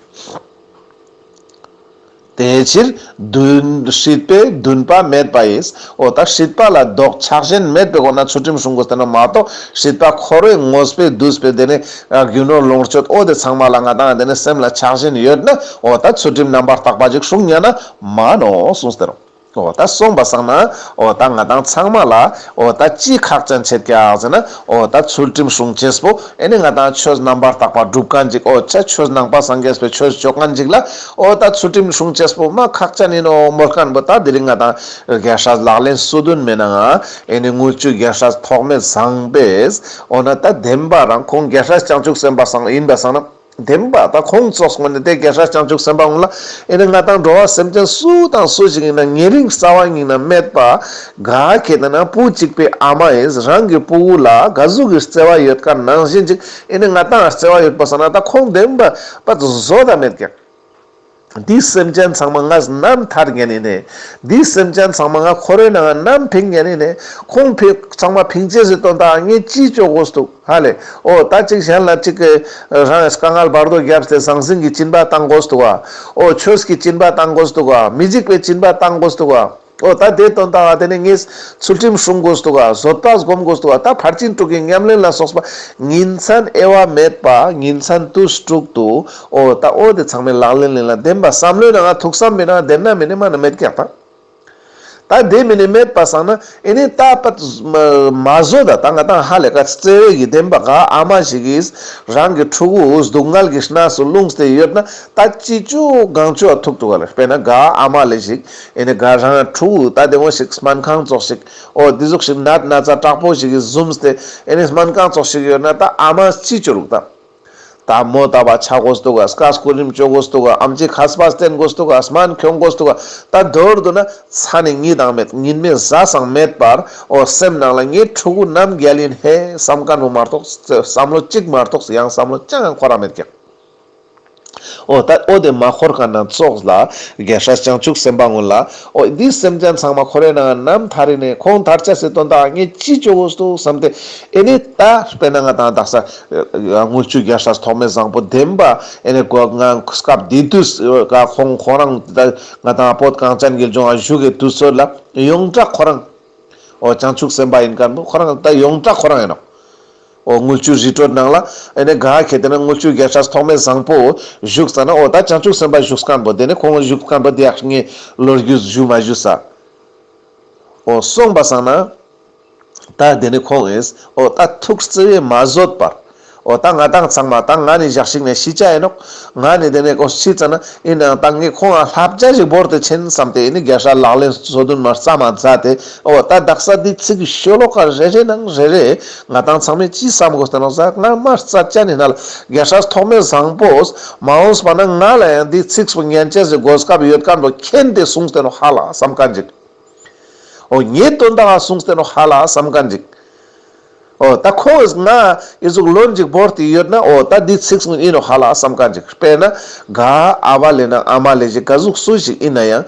Speaker 1: དེའི་ཕྱིར་བདུན། སྲིད་པའི་བདུན་པ་མེད་པ་ཡིས་འོ་ད་སྲིད་པ་ལ་ལྡོག་ཆགས་གཞན་མེད་པའི་སྒོ་ན་ཚུལ་ཁྲིམས་སྲུང་དགོས་ཟེར་ན་མ་གཏོགས་སྲིད་པ་ཁོ་རེ་ངོ་སྤེལ་བསྡུ་སྤེལ་དེ་ནི་རྒྱུ་ནོར་ལོངས་སྤྱོད་ཨོ་དེ་ཚང་མ་ལ་ང་དང་དེ་ནི་སེམས་ལ་ཆགས་བཞིན་ཡོད་ན་འོ་ད་ཚུལ་ཁྲིམས་རྣམ་པར་དག་པ་ཞིག་སྲུང་ཡོད་ན་མ་གནོངས་གསུངས་ཟེར་རོ། འོ་ད་སོང་པ་སང་ན་འོ་ད་ང་དང་ཚང་མ་ལ་འོ་ད་ཅི་ཁག་ཅན་བྱེད་ཀྱི་ཨག་ཟེར་ན་འོ་ད་ཚུལ་ཁྲིམས་སྲུང་ཆེས་པོ་ཨེ་ནི་ང་དང་ཆོས་རྣམ་པར་དག་པ་སྒྲུབ་ག་འཇིག་འོ་ཆ་ཆོས་ནང་པ་སངས་རྒྱས་པའི་ཆོས་སྤྱོད་ག་འཇིག་ལ་འོ་ད་ཚུལ་ཁྲིམས་སྲུང་ཆེས་པོ་མ་ཁག་ཅན་ཡིན་ནོ་མོ་སྐལ་པོ་ད་འདི་རིང་ང་དང་རྒྱལ་སྲས་ལག་ལེན་སུ་དོན་མེད་ན་ང་ཨེ་ནི་དངུལ་ཆུའི་རྒྱལ་སྲས་ཐོགས་མེད་བཟང་པས་འོ་ན་ད་བདེན་པ་རང་ཁོང་རྒྱལ་སྲས་བྱང་ཆུབ་སེམས་དཔའ་སང་ཡིན་པ་སང་ན། བདེན་པ་དང་ཁོང་ཚོགས་སོང་ནས་དེ་རྒན་ཧྲལ་བྱང་ཆུབ་སེམས་དཔའ་ངུ་ལ་ཨེ་ནི་ང་དང་འགྲོ་བ་སེམས་ཅན་སུ་དང་སུ་ཞིག་ཡིན་ན་ཉེ་རིང་རྩ་བ་ཉིད་ན་སྨད་པ་ག་གེ་དེ་ན་བུ་གཅིག་པའི་ཨ་མ་ཨེས་རང་གི་བུ་བུ་ལ་ག་གཟུགས་ཀྱི་བརྩེ་བ་ཡོད་ཀ་ནང་བཞིན་ཅིག་ཨེ་ནི་ང་དང་བརྩེ་བ་ཡོད་པ་བསམ་ན་ད་ཁོང་བདེན་པ་པ་བཟོ་ད་མེད་ཀྱང། འདིས་སེམས་ཅན་ཚང་མ་ངའི་རྣམ་ཐར་ཉན་ནས། འདིས་སེམས་ཅན་ཚང་མ་ང་ཁོ་རོའི་ནང་ངའི་རྣམ་ཕིང་ཉན་ནས། ཁོང་ཕིང་ཚང་མ་ཕིང་ཅེས་ཟེར་དོན་དག་ངས་ཅིས་ལྕོགས་དགོས་སུ་འདུག་ཧ་ལས། ཨོ་ད་ཅིག་གཞན་ལ་ཅིག་གི། རང་གིས་དཀའ་ངལ་བར་དོ་བརྒྱབ་སྟེ་ཟང་ཟིང་གི་སྤྱིན་པ་བཏང་དགོས་སུ་འདུག་ཨ། ཨོ་ཆོས་ཀྱི་སྤྱིན་པ་བཏང་དགོས་སུ་འདུག་ཨ། མི་འཇིགས་པའི་སྤྱིན་པ་བཏང་དགོས་སུ་འདུག་ཨ། ཨོ་ད་དེ་དོན་དག་དེ་ནི་ངས་ཚུལ་ཁྲིམས་སྲུང་དགོས་འདུག་བཟོ་ལྟ་སྒོམ་དགོས་འདུག་ད་ཕར་ཕྱིན་དྲུག་གི་ཉམས་ལེན་ལ་སོགས་པ་ཉིན་མཚན་དབྱེ་བ་མེད་པ་ཉིན་མཚན་དུས་དྲུག་ཏུ་ཨོ་ད་ཨོ་དེ་ཚང་མའི་ལག་ལེན་ལེན་ལ་བདེན་པ་བསམ་བློའི་ནང་ང་ཐུགས་བསམ་མེད་ན་བདེན་ན་མེད་ནས་མ་ན་མེད་ཀྱང་ཐང། ད་དེ་མེད་ནས་མེད་པ་བསམ་ན་ཨེ་ནས་ད་པད་མ་བཟོ་ད་ད་ང་དང་ཧ་ལས་ཀ་བརྩེ་བས་ཀྱི་བདེན་པ་ག་ཨ་མ་ཞིག་གིས་རང་གི་ཕྲུ་གུ་སྡུག་བསྔལ་གྱི་སྣ་སུ་བླུངས་ཏེ་ཡོད་ན་ད་ཅི་ཅུ་གང་ཅུ་ཨ་ཐུག་ཐུག་ཨ་ལས་དཔེར་ན་ག་ཨ་མ་ལས་ཞིག་ཨེ་ནི་དགའ་རང་ཕྲུ་གུ་ལྟ་བདེ་མོ་ཞིག་སྨན་ཁང་བཙོག་ཞིག་ཨོ་འདི་གཟུགས་ཞིབ་ནད་ན་ཚ་དྲག་པོ་ཞིག་གི་བཟུམ་སྟེ་ཨེ་ནི་སྨན་ཁང་བཙོག་ཞིག་ཡོད་ན་ད་ཨ་མ་ཅི་བྱོས་རུག་ད། ད་མོ་ལྟ་བ་ཆགས་དགོས་འདུག་ག་སྐ་སྐུ་རིམ་བཅོས་དགོས་འདུག་ག་ཨམ་ཆི་ཁ་སྤ་བསྟེན་དགོས་འདུག་ག་སྨན་གྱོན་དགོས་འདུག་ག་ད་འདོར་འདུག་ན་ཚ་ནི་ངི་དང་མེད་ཉིན་མེད་བཟའ་ཟང་མེད་པར་ཨོ་སེམས་ནང་ལ་ངའི་ཕྲུ་གུ་རྣམ་རྒྱལ་ཡིན་ཧེ་བསམ་དཀའ་འདུག་མ་གཏོགས་བསམ་བློ་གཅིག་མ་གཏོགས་ཡང་བསམ་བློ་ཅང་ཡང་འཁོར་ར་མེད་ཀྱང། ཨོ། ད་ཨོ་དེ་མ་འཁོར་གང་ན་ཙོགས་ལ། རྒྱལ་སྲས་བྱང་ཆུབ་སེམས་དཔའ་ངོ་ལ། ཨོ་འདིས་སེམས་ཅན་ཚང་མ་ཁོ་རེ་ནའང་ནམ་ཐ་རི་ནས་ཁོང་དར་ཆ་སེ་དོན་དག་ངས་ཅི་བྱོ་བོ་སྟུ་བསམ་སྟེ། ཨེ་ནས་ད་དཔེ་ན་ང་དང་བདག་ས། དངུལ་ཆུ་རྒྱལ་སྲས་ཐོགས་མེད་བཟང་པོ་བདེན་པ། ཨེ་ནས་གོ། ང་སྐབས་དེ་དུས་ཀ་ཁོང་ཁོ་རང་དེ་ད། ང་དང་ཨོ་གངས་ཅན་དགེ་སྦྱོང་ཨ་བཞུགས་ཀའི་དུས་ཚོད་ལ། ཡོངས་གྲགས་ཁོ་རང། ཨོ་བྱང་ཆུབ་སེམས་དཔའ་ཡིན་སྐབས་ནི་ཁོ་རང་ད་ཡོངས་གྲགས་ཁོ་རང་ཡིན་ནོ། འོ་དངུལ་ཆུའི་རི་ཁྲོད་ནང་ལ་ཨེ་ནས་ག་གེ་དེ་ནས་དངུལ་ཆུའི་རྒྱལ་ཁྲག་ཐོག་མའི་བཟང་པོ། བཞུགས་ས་ནི་འོ་ད་བྱང་ཆུབ་སེམས་དཔའ་བཞུགས་སྐམ་པོ་དེ་ནས་ཁོང་གི་བཞུགས་སྐམ་པོ་དེ་ཡག་ངའི་ལོ་རྒྱུས་བཞུགས་མ་བཞུགས་ས། འོ་གསུངས་པ་བསམ་ན། ད་དེ་ནས་ཁོང་གིས་འོ་ད་ཐུགས་བརྩེ་བས་མ་བཟོད་པར། འོ་ད་ང་དང་ཚང་མ་ད་ང་ནི་བཞག་ཞིག་ནས་ཤི་བྱ་ཨེ་ནོག། ང་ནི་དེ་ནས་ཀོ་ཤི་ཙ་ན་ཡིན་ནའང་ད་ངས་ཁོང་ལ་ལྷ་བརྒྱ་ཞིག་བོར་ཏེ་ཕྱིན་བསམ་སྟེ་ཨེ་ནས་རྒྱལ་ཧྲལ་ལག་ལེན་སོ་བདུན་མར་རྩ་མ་བཟའ་སྟེ་འོ་ད་བདག་ས་འདིའི་ཚིག་གི་ཤོ་ལོ་ཀ་རེ་རེ་ནང་རེ་རེ་ང་དང་ཚང་མས་ཅི་བསམ་དགོས་དོན་ལ་གཟའ་སྔར་མ་རྩ་བཅད་ནས་ནལ་རྒྱ་ཧྲལ་ཐོག་མེད་བཟང་པོས་མ་འོངས་པ་ན་ང་ལ་ཡང་འདིའི་ཚིགས་སུ་ངན་བཅད་ཟིག་དགོས་སྐབས་ཡོད་དཀའ་འགྲོ་མཁྱེན་དེ་གསུངས་དོན་ཧ་ལ་བསམ་དཀའ་འཇིག་ཨོ་ངས་དོན་དག་གསུངས་དོན་ཧ་ལ་བསམ་དཀའ་འཇིག་ཨོ་ད་ཁོ་བོས་ང་ཡི་གཟུགས་ལོ་འཇིག་བོར་དེ་ཡོད་ན་ཨོ་ད་འདིའི་ཚིགས་སུ་ཡིན་ནོ་ཧ་ལ་བསམ་དཀའ་འཇིག་དཔེར་ན་ག་ཨ་བ་ལས་ན་ཨ་མ་ལས་གཞི་ག་གཟུགས་སུ་ཞིག་ཡིན་ན་ཡང།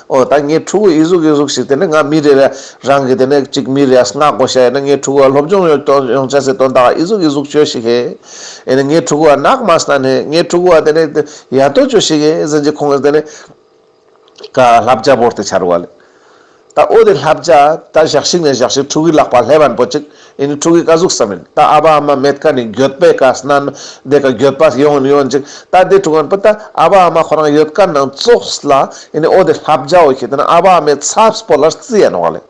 Speaker 1: ཨོ་ད་ངའི་ཕྲུ་གུ་ཨི་གཟུགས་ཨི་གཟུགས་ཤིག་དེ་ནས་ང་མི་རེ་རེ་རང་གི་དེ་ནས་གཅིག་མི་རེའས་སྔགས་གོ་བཤད་ཡོད་ན་ངའི་ཕྲུ་གུ་བ་སློབ་སྦྱོང་ཡོང་ཡོང་བྱ་ཟེར་དོན་དག་ཨི་གཟུགས་ཨི་གཟུགས་ཅོ་ཞིག་ཧེ། ཨེ་ནས་ངའི་ཕྲུ་གུ་བ་ནག་མ་སྣ་ནས་ངའི་ཕྲུ་གུ་བ་དེ་ནས་ཡ་ཏོ་ཅོ་ཞིག་ཧེ་ཟེར་གྱི་ཁོང་གིས་དེ་ནས་ཀ་ལྷ་བརྒྱ་བོར་ཏེ་འཕྱར་བ་ལས། ད་ཨོ་དེ་ལྷ་བརྒྱ་ད་ཞག་ཞིག་ནས་ཞག་ཞིག་ཕྲུ་གུའི་ལག་པ་ལྷས་བན་པོ་ཅིག་ཨེ་ནི་ཕྲུ་གུའི་དཀའ་གཟུགས་སམ་ཨིན། རྟ་ཨ་བ་ཨ་མ་མེད་ཀ་ནི་འགྱོད་པའི་དཀའ་སྣང་ནི་འདས་ཀ་འགྱོད་པ་ཡོང་ནི་ཡོང་ཅིག་རྟ་དེ་ཕྲུ་ག་ནི་པི་རྟ་ཨ་བ་ཨ་མ་ཁོ་རང་ཡོད་ཀ་ནང་ཙོགས་ལ་ཨེ་ནི་ཨོ་དེ་ལྷ་བརྒྱ་ཨོ་ཁྱེད་དེ་ནང་ཨ་བ་ཨ་མའི་ཚབས་པོ་ལར་རྩི་ཡ་ནོག་ལེ།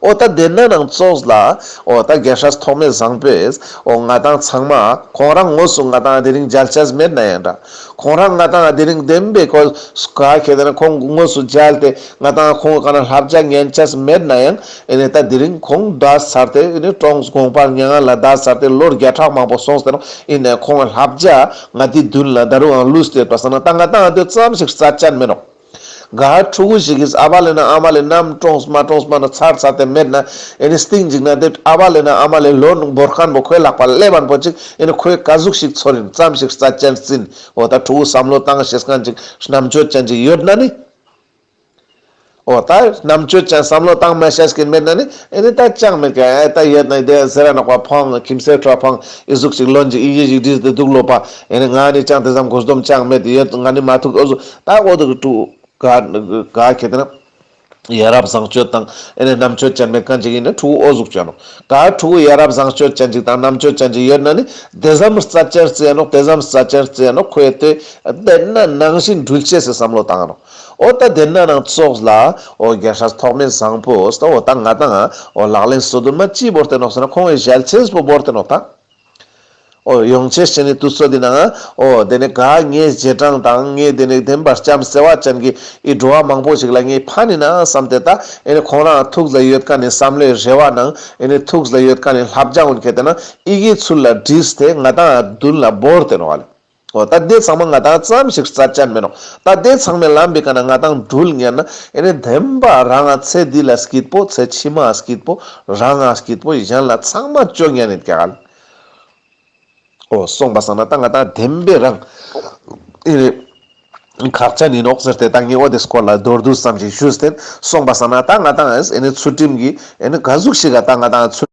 Speaker 1: ཨོ་རྟ་དེ་ནང་ནང་ཙོགས་ལ་ཨོ་རྟ་རྒྱལ་ཧྲས་ཐོག་མེད་བཟང་པོས་ཨོ་ང་དང་ཚང་མ་ཁོང་རང་ངོས་སུ་ང་དང་དེ་རིང་འཇལ་བྱས་མེད་ན་ཡང་འདྲ་ཁོང་རང་ང་དང་དེ་རིང་བདེན་པའི་གོས་སུ་ག་ཁྱེད་དེ་ནང་ཁོང་ངོས་སུ་འཇལ་ཏེ་ང་དང་ཁོང་ག་ནང་ལྷ་བརྒྱ་ངན་བྱས་མེད་ན་ཡང་ཨེ་ནས་ད་དེ་རིང་ཁོང་རྡ་སར་དེ་ཨེ་ནས་ཀྲོངས་དགོངས་པར་མྱ་ང་ལ་རྡ་སར་དེ་ལོར་བརྒྱ་ཕྲག་མང་པོ་སོང་ཟེར་ཨེ་ནས་ཁོང་ལ་ལྷབ་བྱ་ང་དེ་བདུན་ལ་ད་རུའང་ལུས་སྟེར་པ་ཟ་ན་ད་ང་དང་ཨ་དོད་ཙམ་ཞིག་རྩ་བཅད་མེད་རོགས། ག་ཧར་ཕྲུ་གུ་ཞིག་གིས་ཨ་བ་ལེ་ན་ཨ་མ་ལེ་ནམ་ཀྲོངས་མ་ཀྲོངས་མ་ན་ཚར་ཚར་དེ་མེད་ན་ཨེ་ནས་སྟེང་འཇིག་ན་དེ་ཨ་བ་ལེ་ན་ཨ་མ་ལེ་ལོར་འབོར་ཁང་པོ་ཁོའི་ལག་པ་ཀླད་བར་འཕོ་ཅིག་ཨེ་ནས་ཁོའི་ཀ་གཟུགས་ཤིག་ཚོར་རིན་ཙམ་ཞིག་རྩ་བཅད་ཟིན་འོ་ད་ཕྲུ་གུ་བསམ་བློ་བཏང་ཞེས་གང་ཅིག་རྣམ་དཔྱོད་ཅན་ཅིག་ཡོད་ན་ནི། ཨོ་ད་རྣམ་དཔྱོད་ཅན་བསམ་བློ་གཏང་མི་ཤེས་ཀྱི་མི་རྣམས་ནི་ཨེ་ནི་ད་ཅང་མི་དགའ་ཨེ་ད་ཡོད་ན་ཨི་དེ་ཟེར་ར་ནག་པ་འཕང་ཁྱིམ་སེར་ཁྲ་འཕང་ཨི་གཟུགས་ཅིག་ལོན་ཅིག་ཨི་ཡིད་ཞིག་བྲིས་ཏེ་སྡུག་ལོ་པ་ཨེ་ནི་ང་ནི་ཅང་དེ་ཙམ་མགོ་སྡོམ་ཅང་མེད་དེ་ཡོད་ང་ནི་མ་ཐུག་ཨོ་གཟུགས་ད་ཨོ་དུ་གི་དྲུག་ག་གི་དེ་ན་ཡ་རབས་བཟང་སྤྱོད་དང་ཨེ་ནི་རྣམ་དཔྱོད་ཅན་མི་གང་ཅིག་ཡིན་ན་དྲུག་ཨོ་གཟུགས་ཅན་ནོ་ད་དྲུག་གི་ཡ་རབས་བཟང་སྤྱོད་ཅན་ཅིག་དང་རྣམ་དཔྱོད་ཅན་ཅིག་ཡོད་ན་ནི་དེ་ཙམ་རྩ་ཅན་རྩེ་ནོ་དེ་ཙམ་རྩ་ཅན་རྩེ་ནོ་ཁོས་དེ་དེ་ན་ནང་བཞིན་འགྲུལ་བྱེད་སའི་བསམ་བློ་གཏང་ནོ། ཨོ་ད་དེ་ན་རང་ཚོགས་ལ་ཨོ་རྒྱ་ཧྲ་ཐོག་མེད་བཟང་པོ་ཨོ་ད་ཨོ་ད་ང་དང་ཨོ་ལག་ལེན་སོ་དུ་མ་ཅི་བོར་ཏེ་ནོག་ས་ན་ཁོང་བའི་ཞལ་ཆེན་སྤོ་བོར་ཏེ་ནོག་ད་ཨོ་ཡོང་ཆེ་ཞེ་ནི་དུ་ཚོ་དེ་ན་ཨོ་དེ་ནི་ག་ངའི་རྗེས་འབྲང་དང་ངའི་དེ་ནི་བདེན་པར་བྱམས་ཟེར་བ་ཅན་གྱི་ཨི་འགྲོ་བ་མང་པོ་ཞིག་ལ་ངའི་ཕ་ནི་ན་བསམ་ཏེ་ད་ཨེ་ནི་ཁོང་རང་ཐུགས་ལ་ཡོད་ཀ་ནི་བསམ་བློའི་རེ་བ་ནང་ཨེ་ནི་ཐུགས་ལ་ཡོད་ཀ་ནི་ལྷ་བྱང་འོད་ཁད་དེ་ན་ཨི་གའི་ཚུལ་ལ་བྲིས་ཏེ་ང་དང་ཨོ་དུན་ལ་བོར་ཏེ་ནོག་ཨ་ལེ། ཨོ་ད་ལྟའི་ཚང་མ་ང་དང་ཙམ་ཞིག་རྩ་བཅར་མི་རུང། ད་ལྟའི་ཚང་མས་ལམ་འབི་ག་ན་ང་དང་འགྲུལ་ངེས་ན། ཨེ་རེད་བདེན་པ་རང་ང་ཚེ་འདི་ལ་སྐྱིད་པོ་ཚེ་ཕྱི་མ་སྐྱིད་པོ་རང་ང་སྐྱིད་པོ་གཞན་ལ་ཚང་མ་སྤྱོ་ངན་ནི་ག་ལ། ཨོ་སོང་པ་སང་ན་ད་ང་དང་བདེན་པའི་རང། ཨེ་རེད། ཁག་ཅག་ནི་ནོག་ཟེར་ཏེ་ད་ངས་ཨོ་དེ་སྐོར་ལ་མདོར་བསྡུས་ཙམ་ཞིག་ཞུས་ཏེ་སོང་པ་སང་ན་ད་ང་དང་ཨེ་ནི་ཚུལ་ཁྲིམས་ཀྱི་ཨེ་ནི་ག་གཟུགས་ཤིག་ག་ད་ང་དང་ཚུལ།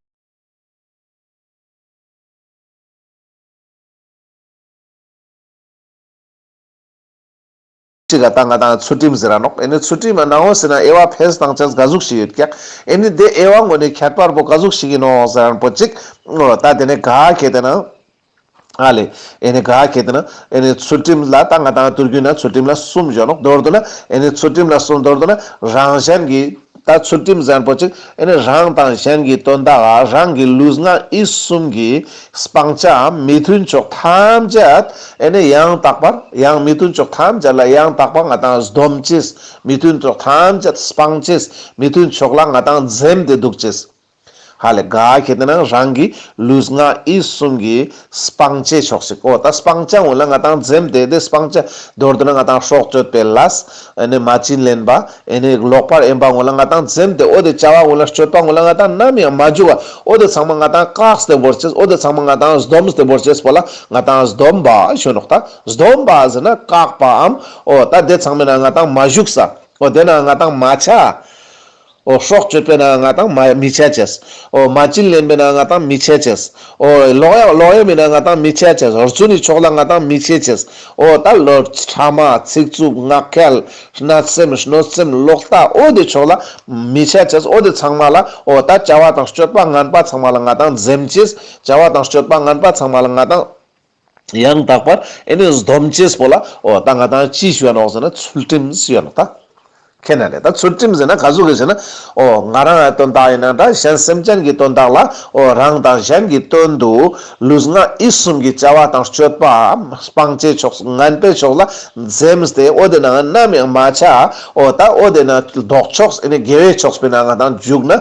Speaker 1: ཅི་ག་ད་ང་དང་ཚུལ་ཁྲིམས་ཟེར་ར་ནོག་ཨེ་ནི་ཚུལ་ཁྲིམས་ཨ་ནའོ་ཟེར་ན་ཨེ་བ་ཕེས་དང་ཆ་ག་ཟུག་ཞིག་ཡོད་ཀྱག་ཨེ་ནི་དེ་ཨེ་བ་ངོ་ནི་ཁྱད་པར་པོ་ག་ཟུག་ཞིག་ཡིན་ནོ་ཟེར་རན་པོ་ཅིག་ཨོ་ད་དེ་ནི་ག་གེ་དེ་ན་ཨ་ལེ་ཨེ་ནི་ག་གེ་དེ་ན་ཨེ་ནི་ཚུལ་ཁྲིམས་ལ་ད་ང་དང་དུར་རྒྱུན་ན་ཚུལ་ཁྲིམས་ལ་གསུམ་བཞོ་ནོག་མདོར་བསྡུ་ན་ཨེ་ནི་ཚུལ་ཁྲིམས་ལ་གསུམ་མདོར་བསྡུ་ན་རང་གཞན་གྱི། ད་ཚུལ་ཁྲིམས་གཟན་པོ་གཅིག་ཨེ་ནི་རང་དང་གཞན་གྱི་དོན་དག་རང་གི་ལུས་ངག་ཡིད་གསུམ་གྱི་སྤང་བྱའམ་མི་མཐུན་ཕྱོགས་ཐམས་ཅད་ཨེ་ནི་ཡང་དག་པར་ཡང་མི་མཐུན་ཕྱོགས་ཐམས་ཅད་ལ་ཡང་དག་པར་ང་དང་སྡོམ་ཅིས་མི་མཐུན་ཕྱོགས་ཐམས་ཅད་སྤང་ཅིས་མི་མཐུན་ཕྱོགས་ལ་ང་དང་འཛེམ་སྟེ་འདུག་ཅིས། ཧ་ལས་དགའ་ཁྱེད་ད་ནངས་རང་གི་ལུས་ངག་ཡིད་གསུམ་གྱི་སྤང་བྱས་ཆོག་ཤིག་ཨོ་ད་སྤང་བྱ་འོན་ན་ང་དང་འཛེམ་དེ་དེ་སྤང་བྱ་འདོར་འདོད་ན་ང་དང་ཧྲོག་སྤྱོད་པའི་ལཱས་ཨེ་ནས་མ་བྱིན་ལེན་པ་ཨེ་ནས་ལོག་པར་ཨེ་འབག་འོན་ལ་ང་དང་འཛེམ་དེ་ཨོ་དེ་བྱ་བ་འོན་ལ་སྤྱོད་པ་འོན་ལ་ང་དང་ནམ་ཡང་མ་འཇུག་ཨོ་དེ་ཚང་མ་ང་དང་ཀགས་དེ་བོར་བྱེད་ཨོ་དེ་ཚང་མ་ང་དང་སྡོམས་དེ་བོར་བྱེད་པོ་ལ་ང་དང་སྡོམ་པ་གཞོན་ནོག་ད་སྡོམ་པ་ཟེར་ན་ཀགས་པའམ་ཨོ་ད་དེ་ཚང་མས་ན་ང་དང་མ་བཞུགས་ས་ཨོ་དེ་ན་ང་དང་མ་བྱ་ཨོ། སྲོག་གཅོད་པས་ན་ང་དང་མི་ཕྱལ་བྱེད། ཨོ། མ་བྱིན་ལེན་པས་ན་ང་དང་མི་ཕྱལ་བྱེད། ཨོ། ལོག་ཡ་ལོག་ཡ་མིན་ན་ང་དང་མི་ཕྱལ་བྱེད། རྫུན་ནི་ཕྱོགས་ལ་ང་དང་མི་ཕྱལ་བྱེད། ཨོ། ད་ལོ། ཕྲ་མ། ཚིག་རྩུབ། ངག་འཁྱལ། གནོད་སེམས། གནོད་སེམས། ལོག་ལྟ། ཨོ། དེ་ཕྱོགས་ལ། མི་ཕྱལ་བྱེད། ཨོ། དེ་ཚང་མ་ལ། ཨོ། ད་བྱ་བ་དང་སྤྱོད་པ་ངན་པ་ཚང་མ་ལ་ང་དང་འཛེམ་བྱེད། བྱ་བ་དང་སྤྱོད་པ་ངན་པ་ཚང་མ་ལ་ང་དང། ཡང་དག་པར་ཨེ་ནུས་སྡོམ་བྱེད་པོ་ལ། འོ་ད་ང་དང་ཅི་ཞུ་ཡ་ནོག་ཟེར་ན་ཚུལ་ཁྲིམས་ཡོད་ན་ད་ཁས་ན་ལེ་ད་ཚུལ་ཁྲིམས་ཟེར་ན་ག་ཟུག་གི་ཟེར་ན། འོ་ང་རང་ཡ་དོན་དག་ཡིན་ན་འདྲ་གཞན་སེམས་ཅན་གྱི་དོན་དག་ལ་འོ་རང་དང་གཞན་གྱི་དོན་དུ། ལུས་ངག་ཡིད་གསུམ་གྱི་བྱ་བ་དང་སྤྱོད་པའམ་སྤང་བྱའི་ཕྱོགས་སུ་ངན་པའི་ཕྱོགས་ལ་འཛེམས་ཏེ་འོ་དེ་ནའང་ནམ་ཡང་མ་བྱ་འོ་ད་འོ་དེ་ན་ལྡོག་ཕྱོགས་ཨེ་ནི་དགེ་བའི་ཕྱོགས་སྤེལ་ན་ང་དང་རྒྱུག་ན་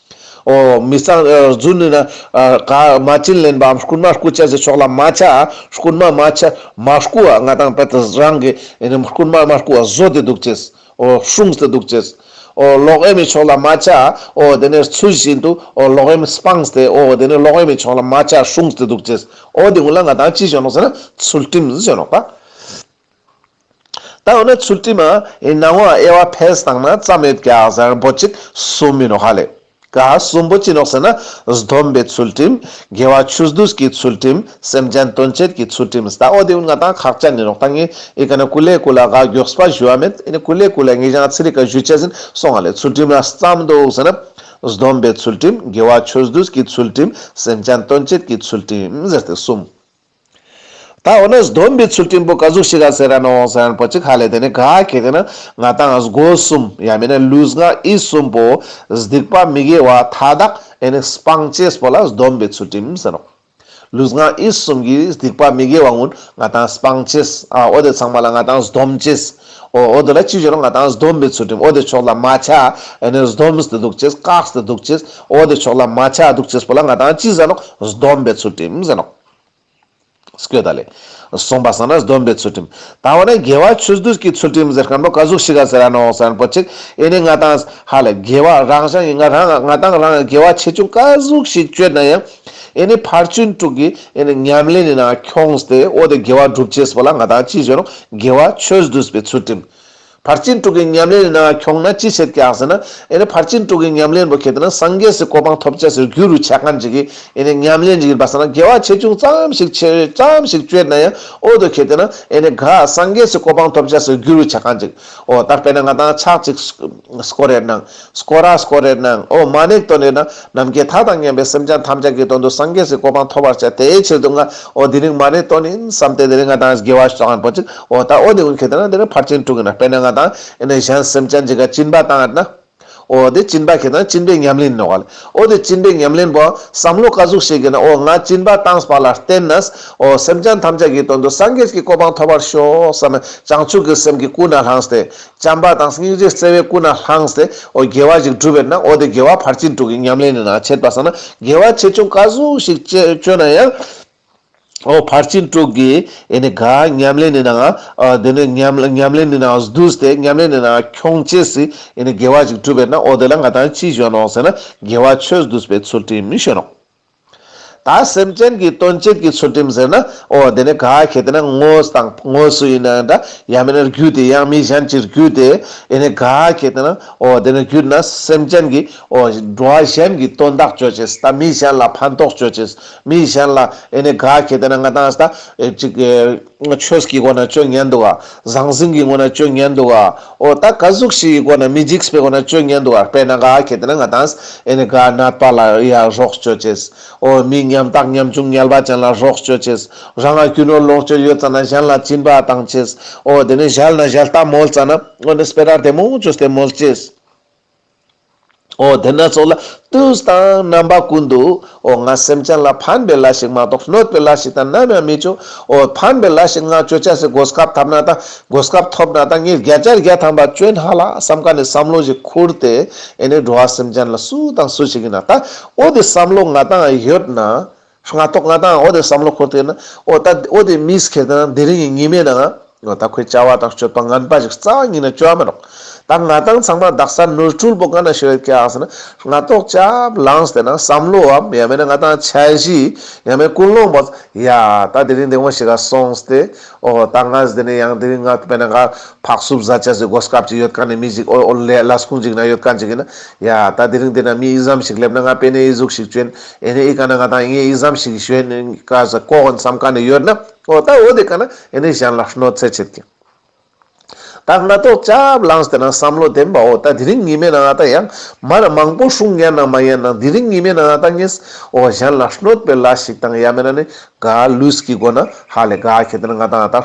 Speaker 1: ཨོ། མི་གཙང། རྫུན་ནི་ན། ག། མ་བྱིན་ལེན་པའམ་རྐུན་མ་རྐུ་བྱ་ཞེས་ཕྱོགས་ལ་མ་བྱ། རྐུན་མ་མ་བྱ། མ་རྐུ་བ་ང་དང་བལྟས་ཏེ་རང་གི། རྐུན་མ་མ་རྐུ་བ་བཟོ་དེ་སྡུག་ཅེས། ཨོ། ཧྲུང་སྟེ་སྡུག་ཅེས། ཨོ། ལོག་ཨེ་མི་ཕྱོགས་ལ་མ་བྱ། ཨོ། དེ་ནས་ཚུལ་བཞིན་དུ། ཨོ། ལོག་ཨེ་མི་སྤང་སྟེ། ཨོ། དེ་ནས་ལོག་ཨེ་མི་ཕྱོགས་ལ་མ་བྱ། ཧྲུང་སྟེ་སྡུག་ཅེས། ཨོ། དེ་སྔོན་ལ་ང་དང་ཅི་བྱས་ནོ་ཟེར་ན། ཚུལ་ཁྲིམས་བྱས་ནོ། ཀ། ད་འོ་ན་ཚུལ་ཁྲིམས་ཨེ་སྣང་བ་དབྱེ་བ་ཕལ་སྣང་ན་རྩ་མེད་བརྒྱ་གཟར་འབོ་གཅིག་གསུམ་མིན་ནོ་ཧ་ལས་ག་གསུམ་པོ་ཅི་ནོག་ཟེར་ན་སྡོམ་པའི་ཚུལ་ཁྲིམས་དགེ་བ་ཆུ་སྡུས་ཀྱི་ཚུལ་ཁྲིམས་སེམས་ཅན་དོན་བྱེད་ཀྱི་ཚུལ་ཁྲིམས་ད་འོ་དེ་ལྔ་དང་ཁག་ཅག་མིན་ནོག་ད་ངས་ཨེ་ག་ན་ཀུ་ལེ་ཀུ་ལ་ག་གྱོགས་པ་བཞུ་བ་མེད་ཨེ་ཀུ་ལེ་ཀུ་ལ་ངས་ཀྱང་ཚེ་རིག་ག་བཞུ་བྱས་ཟིན་སོང་ང་ལས་ཚུལ་ཁྲིམས་ལ་བརྩམས་འདུག་ཟེར་ན་སྡོམ་པའི་ཚུལ་ཁྲིམས་དགེ་བ་ཆུ་སྡུས་ཀྱི་ཚུལ་ཁྲིམས་སེམས་ཅན་དོན་བྱེད་ཀྱི་ཚུལ་ཁྲིམས་ཟེར་ཏེ་གསུམ། ད་འོ་ན་སྡོམ་པའི་ཚུལ་ཁྲིམས་པོ་ག་གཟུགས་ཤི་ག་ཟེར་ཡ་ན་འོང་ཟེར་ཡ་ན་པོ་ཅི་ག་ལས་དེ་ནི་ག་གེ་དེ་ནི་ང་དང་སྒོ་གསུམ་ཡ་མེད་ན་ལུས་ངག་ཡིད་གསུམ་པོ་སྡིག་པ་མི་དགེ་བ་མཐའ་དག་ཨེ་ནི་སྤང་བྱེད་པོ་ལ་སྡོམ་པའི་ཚུལ་ཁྲིམས་ཟེར་རོ། ལུས་ངག་ཡིད་གསུམ་གྱི་སྡིག་པ་མི་དགེ་བ་ངུ་ང་དང་སྤང་བྱེད་ཨ་འོ་དེ་ཚང་མ་ལ་ང་དང་སྡོམ་བྱེད་ཨོ་འོ་དེ་ལ་ཅི་བྱེད་རོང་ང་དང་སྡོམ་པའི་ཚུལ་ཁྲིམས་འོ་དེ་ཕྱོགས་ལ་མ་ཆགས་ཨེ་ནི་སྡོམ་སྟེ་སྡུག་བྱེད་བཀག་སྟེ་སྡུག་བྱེད་ཨོ་དེ་ཕྱོགས་ལ་མ་ཆགས་སྡུག་བྱེད་པོ་ལ་ང་དང་ཅི་ཟེར་རོང་སྡོམ་པའི་ཚུལ་ཁྲིམས་ཟེར་རོ། སྐད་བརྡ་ལས། གསུངས་པ་ས་ན་སྡོམ་པའི་ཚུལ་ཁྲིམས། ད་འོ་ན་རྒྱལ་བ་ཆོས་བདུད་ཀྱི་ཚུལ་ཁྲིམས་ཟེར་མཁན་པོ་བཀའ་ཟུར་ཤི་ག་ཟེར་ཡ་ནོ་ཟེར་མཁན་པོ་གཅིག་ཨེ་ནི་ང་དང། ཧ་ལས་རྒྱལ་བ་རང་ཞང་ཡིན་ང་རང་ང་དང་རང་རྒྱལ་བ་ཆེ་ཆུང་བཀའ་ཟུག་ཞིག་བཅོས་ན་ཡང། ཨེ་ནི་ཕར་ཚུན་དྲུག་གི་ཨེ་ནི་ཉམས་ལེན་ནི་ན་ཁྱོངས་ཏེ་འོ་དེ་རྒྱལ་བ་སྒྲུབ་བྱེད་སྤོ་ལ་ང་དང་ཅི་བྱོས་རུང་རྒྱལ་བ་ཆོས་བདུད་པའི་ཚུལ་ཁྲིམས། ཕར་ཕྱིན་དྲུག་གི་ཉམས་ལེན་ནང་འཁྱོངས་ན་ཅི་བྱེད་སྐྱག་ཟེར་ན། ཨེ་ནི་ཕར་ཕྱིན་དྲུག་གི་ཉམས་ལེན་པོ་ཁྱེད་ནི་སངས་རྒྱས་སུ་གོ་འཕང་ཐོབ་བྱ་ཟེར་རྒྱུ་རུ་ཆ་ག་འཇིག་གི་ཨེ་ནི་ཉམས་ལེན་ཡིན་པ་ཟེར་ན་དགེ་བ་ཆེ་ཆུང་ཙམ་ཞིག་ཆེ་ཙམ་ཞིག་སྤྱོད་ན་ཡང་ཨོ་ཏོ་ཁྱེད་ནི་ཨེ་ནི་ག་སངས་རྒྱས་སུ་གོ་འཕང་ཐོབ་བྱ་ཟེར་རྒྱུ་རུ་ཆ་ག་འཇིག་ཨོ་ད་དཔེར་ན་ང་དང་ཆག་ཅིག་སྐོར་རེ་གནང། སྐོར་ར་སྐོར་རེར་སྣང་ཨོ་མ་ནེག་དོན་རེ་ན་ནམ་མཁའི་མཐའ་དང་མཉམ་པའི་སེམས་ཅན་ཐམས་ཅད་ཀྱི་དོན་དུ་སངས་རྒྱས་སུ་གོ་འཕང་ཐོབ་པར་བྱ་དེའི་ཕྱིར་དུ་སྔ་ཨོ་འདི་རིང་མ་ནེ་དོན་ཡིན་བསམ་སྟེ་འདི་ནི་སྔ་དང་དགེ་བ་བྱ་བ་འགྲོ་ཅིག་ཨོ་ད་ཨོ་འདི་ཀུན་གྱི་དོན་ན་འདི་ནི་ཕར་ཕྱིན་དྲུག་ཡིན་དཔེར་ན་སྔ་དང་ཡིན་ནི་གཞན་སེམས་ཅན་གྱི་ག་བཅིན་པ་དང་ཡིན་ན་ཨོ་འདི་བཅིན་པ་གྱི་དོན་བཅིན་པའི་ཉམས་ལེན་ནོ། ཨོ་འདི་བཅིན་པའི་ཉམས་ལེན་པོ། བསམ་བློ་བཀའ་ཟུག་བྱེད་གི་ན་ཨོ་སྔ་བཅིན་པ་དང་བ་ལ་བརྟེན་ན་ཨོ་སེམས་ཅན་ཐམས་ཅད་ཀྱི་དོན་དུ་སངས་རྒྱས་ཀྱི་གོ་འཕང་ཐོབ་པར་ཤོག་བསམ་ན་བྱང་ཆུབ་ཀྱི་སེམས་ཀྱི་སྐུ་ན་ལྷང་སྟེ། བྱམས་པ་དང་སྙིང་རྗེ་བརྩེ་བས་སྐུ་ན་བསླངས་ཏེ་ཨོ་རྒྱལ་བ་ཞིག་བསྒྲུབས་པའི་ནང་ཨོ་དེ་རྒྱལ་བ་ཕར་ཕྱིན་དྲུག་གི་ཉམས་ལེན་ནི་ན་ཆེད་པ་སོགས་ན་རྒྱལ་བ་ཆེ་ཆུང་བཀའ་ཟུར་ཞིག་སྤྱོད་ན་ཡང། ཨོ་ཕར་ཕྱིན་དྲུག་གི་ཨེ་ནི་གཱ་ཉམས་ལེན་ནི་ན་ང་ཨོ་དེ་ནི་ཉམས་ལེན་ནི་ན་བསྡུས་ཏེ་ཉམས་ལེན་ནི་ན་ཁྱོང་ཆེ་སི་ཨེ་ནི་རྒྱལ་བ་ཞིག་བསྒྲུབས་པའི་ནང་ཨོ་དེ་ལ་ང་དང་ཅི་བྱོན་ནོ་ཟེར་ན་རྒྱལ་བ་ཆོས་བསྡུས་པའི་ཚུལ་དྲིན་མི་བྱོན་ནོ། ད་སེམས་ཅན་གྱི་དོན་གཅིག་གི་ཚུལ་ཁྲིམས་ཟེར་ན། ཨོ་དེ་ནི་ག་གེ་དེ་ན་ངོ་དང་ངོ་སུ་ཡིན་ན་འདྲ། ཡང་མིན་ན་རྒྱུད་དེ་ཡང་མི་གཞན་གྱི་རྒྱུད་དེ། ཨེ་ནི་ག་གེ་དེ་ན། ཨོ་དེ་ནི་རྒྱུད་ན་སེམས་ཅན་གྱི། ཨོ་འགྲོ་བ་གཞན་གྱི་དོན་དག་སྤྱོད་ཅེས་ད་མི་གཞན་ལ་ཕན་ཐོགས་སྤྱོད་ཅེས། མི་གཞན་ལ། ཨེ་ནི་ག་གེ་དེ་ན་ང་དང། ཅིག། ཆོས་ཀྱི་སྒོ་ན་སྤྱོད་ཉན་འདུག་ཨ། ཟང་ཟིང་གི་ངོ་ན་སྤྱོད་ཉན་འདུག་ཨ། ཨོ་ད་ག་གཟུགས་བཞི་ཡི་སྒོ་ན་མི་འཇིགས་པའི་སྒོ་ན་སྤྱོད་ཉན་འདུག་ཨ་དཔེར་ན་ག་ཁྱེད་རང་ག་དང་ཨེ་ནི་ག་ནད་པ་ལ་ཡང་རོགས་སྤྱོད་ཅེས། ཨོ་མི་ཉམས་རྟགས་ཉམས་ཆུང་ཉལ་བ་ཅན་ལ་རོགས་སྤྱོད་ཅེས། རང་ལ་རྒྱུ་ནོར་ལོངས་སྤྱོད་ཡོད་ཙམ་ན་གཞན་ལ་བྱིན་པ་དང་ཅེས། ཨོ་དེ་ནི་གཞལ་ན་གཞལ་སྟབས་མོལ་ཙམ་ན། ཨོ་ནི་སྤེ་ར་དེ་མོ་ཅོས་དེ་མོལ་ཅེས། ཨོ་དེ་སྣ་ཚོགས་ལ་དུས་དང་རྣམ་པ་ཀུན་འདུ། ཨོ་ང་སེམས་ཅན་ལ་ཕན་པའི་ལ་ཞིག་མ་གཏོགས་གནོད་པའི་ལ་ཞིག་དང་ནམ་ཡང་མི་སྤྱོད། ཨོ་ཕན་པའི་ལ་ཞིག་ང་སྤྱོད་ཆ་ཟིག་སྒོ་སྐབས་ཐབས་ན་དང་སྒོ་སྐབས་ཐོབ་ན་དང་ངས་བརྒྱ་ཆར་བརྒྱ་ཐམ་པ་སྤྱོད་ན་ལ་བསམ་ཁ་ནས་བསམ་བློ་ཞིག་ཁུར་ཏེ་ཨེ་ནས་འགྲོ་བ་སེམས་ཅན་ལ་སུ་དང་སུ་ཞིག་ཡིན་ན་ལྟ་ཨོ་དེ་བསམ་བློ་ང་དང་ཡོད་ན། སྔ་ཐོག་ང་དང་ཨོ་དེ་བསམ་བློ་འཁོར་དུས་ན་ཨོ་ད་ཨོ་དེ་མིས་ཁེར་དེ་ན་དེ་རིང་གི་ཉི་མས་ནའང་ཨོ་ད་ཁོའི་བྱ་བ་དང་སྤྱོད་པ་ངན་པ་ཞིག་རྩ་བ་ཉིད་ནས་སྤྱོད་ཨ་མེད་རོགས། ད་ང་དང་ཚང་མ་རྡག་ས་ནོར་འཁྲུལ་པོ་ག་ན་ཞིག་རེད་སྐྱེ་ཨང་ཟེར་ན་སྔ་ཐོག་སྐྱབས་ལངས་དེ་ན་བསམ་བློའམ་ཡང་མེད་ན་ང་དང་ཆ་བཞི་ཡང་མེད་ཀུན་སློང་པོ། ཡ། ད་དེ་རིང་དེ་ངོ་ཞིག་ག་སོང་སྟེ། ཨོ་ཧོ། ད་ངའས་འདི་ནས་ཡང་དེ་རིང་ང་དཔེ་ན་ག། ཕག་སུབ་བཟའ་བཅའ་ཟེར་སྒོ་སྐབས་ཅིག་ཡོད་ཀ་ནས་མི་གཅིག་ཨོལ་ཨོལ་ལས་བླ་སྐུང་གཅིག་ན་ཡོད་ཀ་འཇིག་གི་ན། ཡ། ད་དེ་རིང་འདི་ན་མི་ཨི་ཟམ་ཞིག་སླེབས་ན་ང་དཔེ་ནས་ཨི་གཟུགས་ཞིག་བྱོན། ཨེ་ནས་ཨི་ག་ན་ང་དང་ཨི་ངས་ཨི་ཟམ་ཞིག་གིས་ཞོན། ཀ་ཟེར་ཀོ་ཧོན་བསམ་ག་ནས་ཡོད་ན། ཨོ། ད་ཨོ་དེ་ག་ན་ཨེ་ནས་གཞན་ལ་ཧྲནོ་ཚེ་བྱེད་ཀྱི། ད་སྔ་ཐོག་སྐྱབས་ལངས་དེ་ན་བསམ་བློ་ལྡན་པའོ་ད་དེ་རིང་ཉི་མའི་ནང་ཨ་ད་ཡང་མར་མང་པོ་ཧྲུང་ཡ་ན་མ་ཡན་ན་དེ་རིང་ཉི་མའི་ནང་ཨ་ད་ངེས་ཨོ་གཞན་ལ་ཧྲནོད་པའི་ལ་ཞིག་དང་ཡ་མེ་ན་ནི་དགའ་ལུས་ཀྱི་སྒོ་ན་ཧ་ལས་དགའ་ཁྱེད་དེ་ན་ང་དང་ཨ་ད་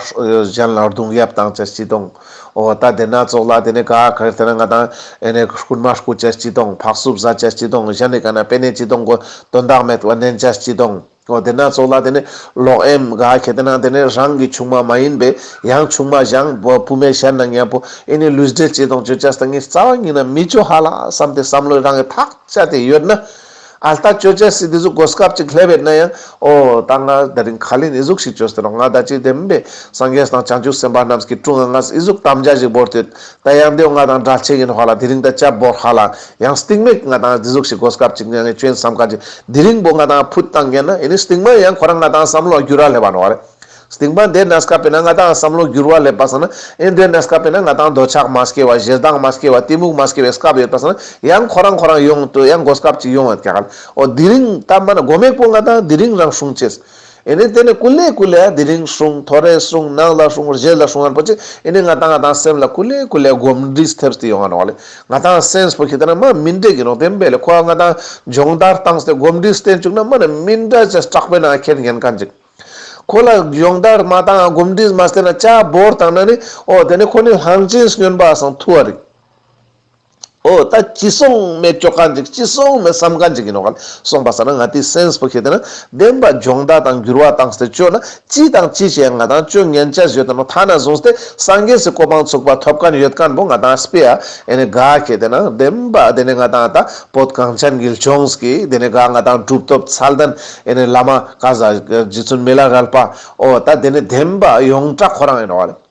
Speaker 1: གཞན་ལ་རྡུང་ཡབ་དང་ཅེར་སྐྱིད་དང་ཨོ་ད་དེ་ན་ཙོག་ལ་དེ་ནས་དགའ་ཁྱེར་དེ་ན་ང་དང་ཨེ་ནས་རྐུན་མ་རྐུ་ཅེར་སྐྱིད་དང་ཕག་སུབ་བཟའ་ཅེར་སྐྱིད་དང་གཞན་ནི་དགའ་ན་དཔེ་ནས་སྐྱིད་དང་དགོས་དོན་དག་མེད་དབེན་ནན་ཅེར་སྐྱིད་དང། འོ་དེ་སྣ་ཚོགས་ལ་དེ་ནི་ལོག་ཨེམ། ག་གེ་དེ་ན་དེ་ནི་རང་གི་ཆུང་མ་མ་ཡིན་པས་ཡང་ཆུང་མ་བཞང་བུ་མའི་ཞལ་ན་ཉལ་པོ་ཨེ་ནི་ལུས་འབྲེལ་བཅས་དང་བཅོས་བཅས་སྟངས་ངེས་རྩ་བ་ཉིད་ན་མི་བྱོ་ཧ་ལ་བསམ་སྟེ་བསམ་བློའི་རང་གི་ཐག་ཆ་དེ་ཡོད་ན། ཨ་ལྟ་བཅོས་བཅས་སྲིད་དེ་ཟུག་གོ་སྐབས་ཅིག་སླེབས་བས་ན་ཡང། ཨོ་ད་ང་ད་རིང་ཁ་ལེན་ཨི་ཟུག་ཞིག་བཅོས་སྟེ་རོགས་ང་ད་ཅི་དེ་མིན་པས་སངས་རྒྱས་དང་བྱང་ཆུབ་སེམས་དཔའ་རྣམས་ཀྱི་དྲུང་ང་ངས་ཨི་ཟུག་དམ་བཅའ་ཞིག་བོར་དུས། ད་ཡང་འདི་འོ་ང་དང་འདྲ་ཆེ་གི་ནི་ཧོ་ལ་དེ་རིང་ད་ལྕགས་སྦོར་ཧ་ལ་ཡང་སྟིང་མིག་ང་དང་རྫི་གཟུགས་ཤིག་སྒོ་སྐབས་ཅིག་ནས་ངས་སྐྱོན་བསམ་ཁ་ཅིག་དེ་རིང་པོ་ང་དང་ཕུད་བཏང་ཀྱེ་ན་ཡིན་ནི་སྟིང་མ་ཡང་ཁོ་རང་ང་དང་བསམ་བློ་བསྒྱུར་ར་སླེབས་པ་ནོ་རེད། སྟིང་མ་འདས་ན་སྐབས་པེ་ན་ང་དང་བསམ་བློ་བསྒྱུར་བ་སླེབས་པ་ས་ན་ཨེ་འདས་ན་སྐབས་པེ་ན་ང་དང་འདོད་ཆགས་མ་སྐྱེ་བ་གཞས་གདངས་མ་སྐྱེ་བ་གཏི་མུག་མ་སྐྱེ་བའི་སྐབས་ཡོད་པ་ས་ན་ཡང་ཁོ་རང་ཁོ་རང་ཡོང་དུས་ཡང་སྒོ་སྐབས་ཅིག་ཡོང་ཡོད་ཀྱ་ལ་ཨོ་དེ་རིང་ད་མ་ན་སྒོ་མེག་པོ་ང་དང་དེ་རིང་རང་སྲུང་བྱེད། ཨེ་ནི་དེ་ནི་སྐུ་ལས་སྐུ་ལས་དེ་རིང་བྱུང་ཐོ་རེ་བྱུང་ནག་ལ་བྱུང་རྗེས་ལ་བྱུང་ཡང་པོ་ཅིག་ཨེ་ནི་ང་དང་ང་དང་སེམས་ལ་སྐུ་ལས་སྐུ་ལས་སྒོམ་འདྲིས་ཐེབས་སྟེ་ཡོང་བ་རོགས་ལས་ང་དང་སེམས་པོ་ཁྱེད་ལྟ་ན་མ་མི་འདྲེས་ཀྱི་རོགས་དེ་འབད་ལས་ཁོ་བ་ང་དང་སྦྱོང་བརྡར་བཏང་སྟེ་སྒོམ་འདྲིས་བསྟེན་བཅུག་ན་མ་ནི་མི་འདྲ་ཅེས་སྐྲག་པའི་ནང་ཁྱེར་ཉེན་ཁ་འཇིགས། ཁོ་ལ་སྦྱོང་བརྡར་མ་བཏང་ཡང་སྒོམ་འདྲིས་མ་བསྟེན་ན་ཅག་འབོར་བཏང་ན་ནི་ཨོ་དེ་ནི་ཁོ་ནི་ལྷང་ཅིང་སྙོན་པ་སང་ཐུ་བ་རེད། ཨོ་ད་ཅི་སོང་མེད་སྐྱོ་ཀ་འཇིག་ཅི་སོང་མེད་བསམ་ཀ་འཇིག་ཡིན་ནོ་ག་ལ་སོང་པ་ཟེར་ན་ང་དེའི་སེན་སི་པོ་ཤེས་དེ་ན་བདེན་པ་སྦྱོང་བརྡ་དང་འགྱུར་བ་དང་སྟེ་སྤྱོད་ན་ཅི་དང་ཅི་བྱས་ང་དང་སྤྱོད་ངན་ཅི་བྱོས་དེ་ནོ་ཐ་ན་བཟུང་སྟེ་སངས་རྒྱས་སུ་གོ་འཕང་ཚུགས་པ་ཐོབ་ཀ་ན་ཡོད་ཀ་ན་བོ་ང་དང་སྤི་ཡ་ཨེ་ནི་ག་ཤེས་དེ་ན་བདེན་པ་དེ་ནས་ང་དང་ཨ་ད་བོད་གངས་ཅན་གིལ་ཆོངས་ཀི་དེ་ནས་ག་ང་དང་གྲུབ་ཐོབ་ཚལ་ལྡན་ཨེ་ནི་བླ་མ་ཀ་ཟ་རྗེ་བཙུན་མི་ལ་རལ་པ་ཨོ་ད་དེ་ནི་བདེན་པ་ཡོངས་གྲགས་ཁོ་རང་ཡིན་ནོ་ག་ལ།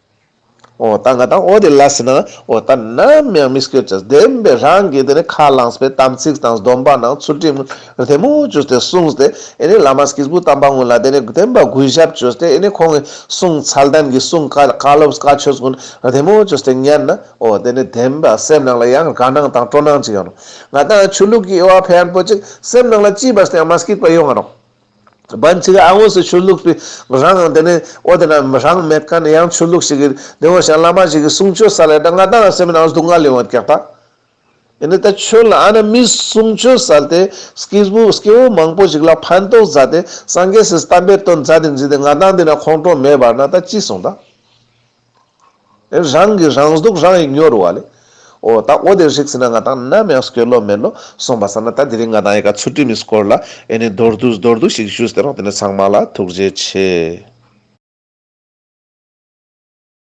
Speaker 1: ཨོ་ད་ང་དང་ཨོ་དེ་ལ་ཟེར་ན་ཨོ་ད་ནམ་ཡང་མི་སྐྱོད་ཅེས་བདེན་པའི་རང་གིས་དེ་ནས་ཁ་བླངས་པའི་དམ་ཚིག་དང་སྡོམ་པ་ནང་ཚུལ་ཁྲིམས་དེ་མོ་བཅོས་ཏེ་གསུངས་ཏེ་ཨེ་ནས་བླ་མ་སྐྱེས་བུ་དམ་པ་དངོས་ལ་དེ་ནས་བདེན་པ་གུས་ཞབས་བཅོས་ཏེ་ཨེ་ནས་ཁོང་གི་གསུང་ཚད་ལྡན་གྱི་གསུང་བཀའ་བཀའ་སློབ་བཀའ་ཆོས་ཀུན་དེ་མོ་བཅོས་ཏེ་ཉན་ན་ཨོ་དེ་ནས་བདེན་པ་སེམས་ནང་ལ་ཡང་དགའ་སྣང་དང་སྤྲོ་སྣང་ཅིག་ཡོང་རོགས་ང་དང་ཆོས་ལུགས་ཀྱི་དབྱེ་བ་ཕན་པོ་ཅིག་སེམས་ནང་ལ་ཅི་བར་དུ་ཡང་མ་སྐྱེས་པ་ཡོང་རོགས། བན་ཚིག་ཨ་དངོས་སུ་ཆོས་ལུགས་པའི་རང་དབང་དེ་ནི་ཨོ་དེ་འདྲ་རང་མེད་ཀ་ནི་ཡང་ཆོས་ལུགས་ཤིག་གི་དེ་འོ་ཞང་བླ་མ་ཞིག་གི་གསུང་ཆོས་ས་ལས་ད་ང་ད་ང་སེམས་ནང་སྡུག་བསྔལ་ལས་འོད་གེགས་པ་ཡིན་ནི་ད་ཁྱོད་ལ་ཨ་ན་མི་གསུང་ཆོས་ས་ལ་དེ་སྐྱེས་བུ་སྐྱེ་བོ་མང་པོ་ཞིག་ལ་ཕན་ཐོག་མཛད་དེ་སངས་རྒྱས་སུ་གཏམ་དཔེ་སྟོན་མཛད་དེ་འཛིན་དེ་ང་ད་འདི་ན་ཁོང་ཁྲོ་མེད་པར་ན་ད་ཅི་གསུང་ད། རང་གི་རང་གཟུགས་རང་ཡིན་སྙོར་བ་ལས། འོ་ད་འོ་དེར་ཧྲིག་སེ་ན་ང་དང་ནམ་ཡང་སྐྱོ་ལོ་མེད་ལོ་སོང་བ་ས་ན་ད་དེ་རིང་ང་དང་ཡི་ག་ཚུར་དྲི་མི་སྐོར་ལ་ཨེ་ནི་མདོར་བསྡུས་མདོར་བསྡུས་ཤིག་ཞུས་ཏེ་རོགས་དེ་ནས་ཚང་མ་ལ་ཐུགས་རྗེ་ཆེ།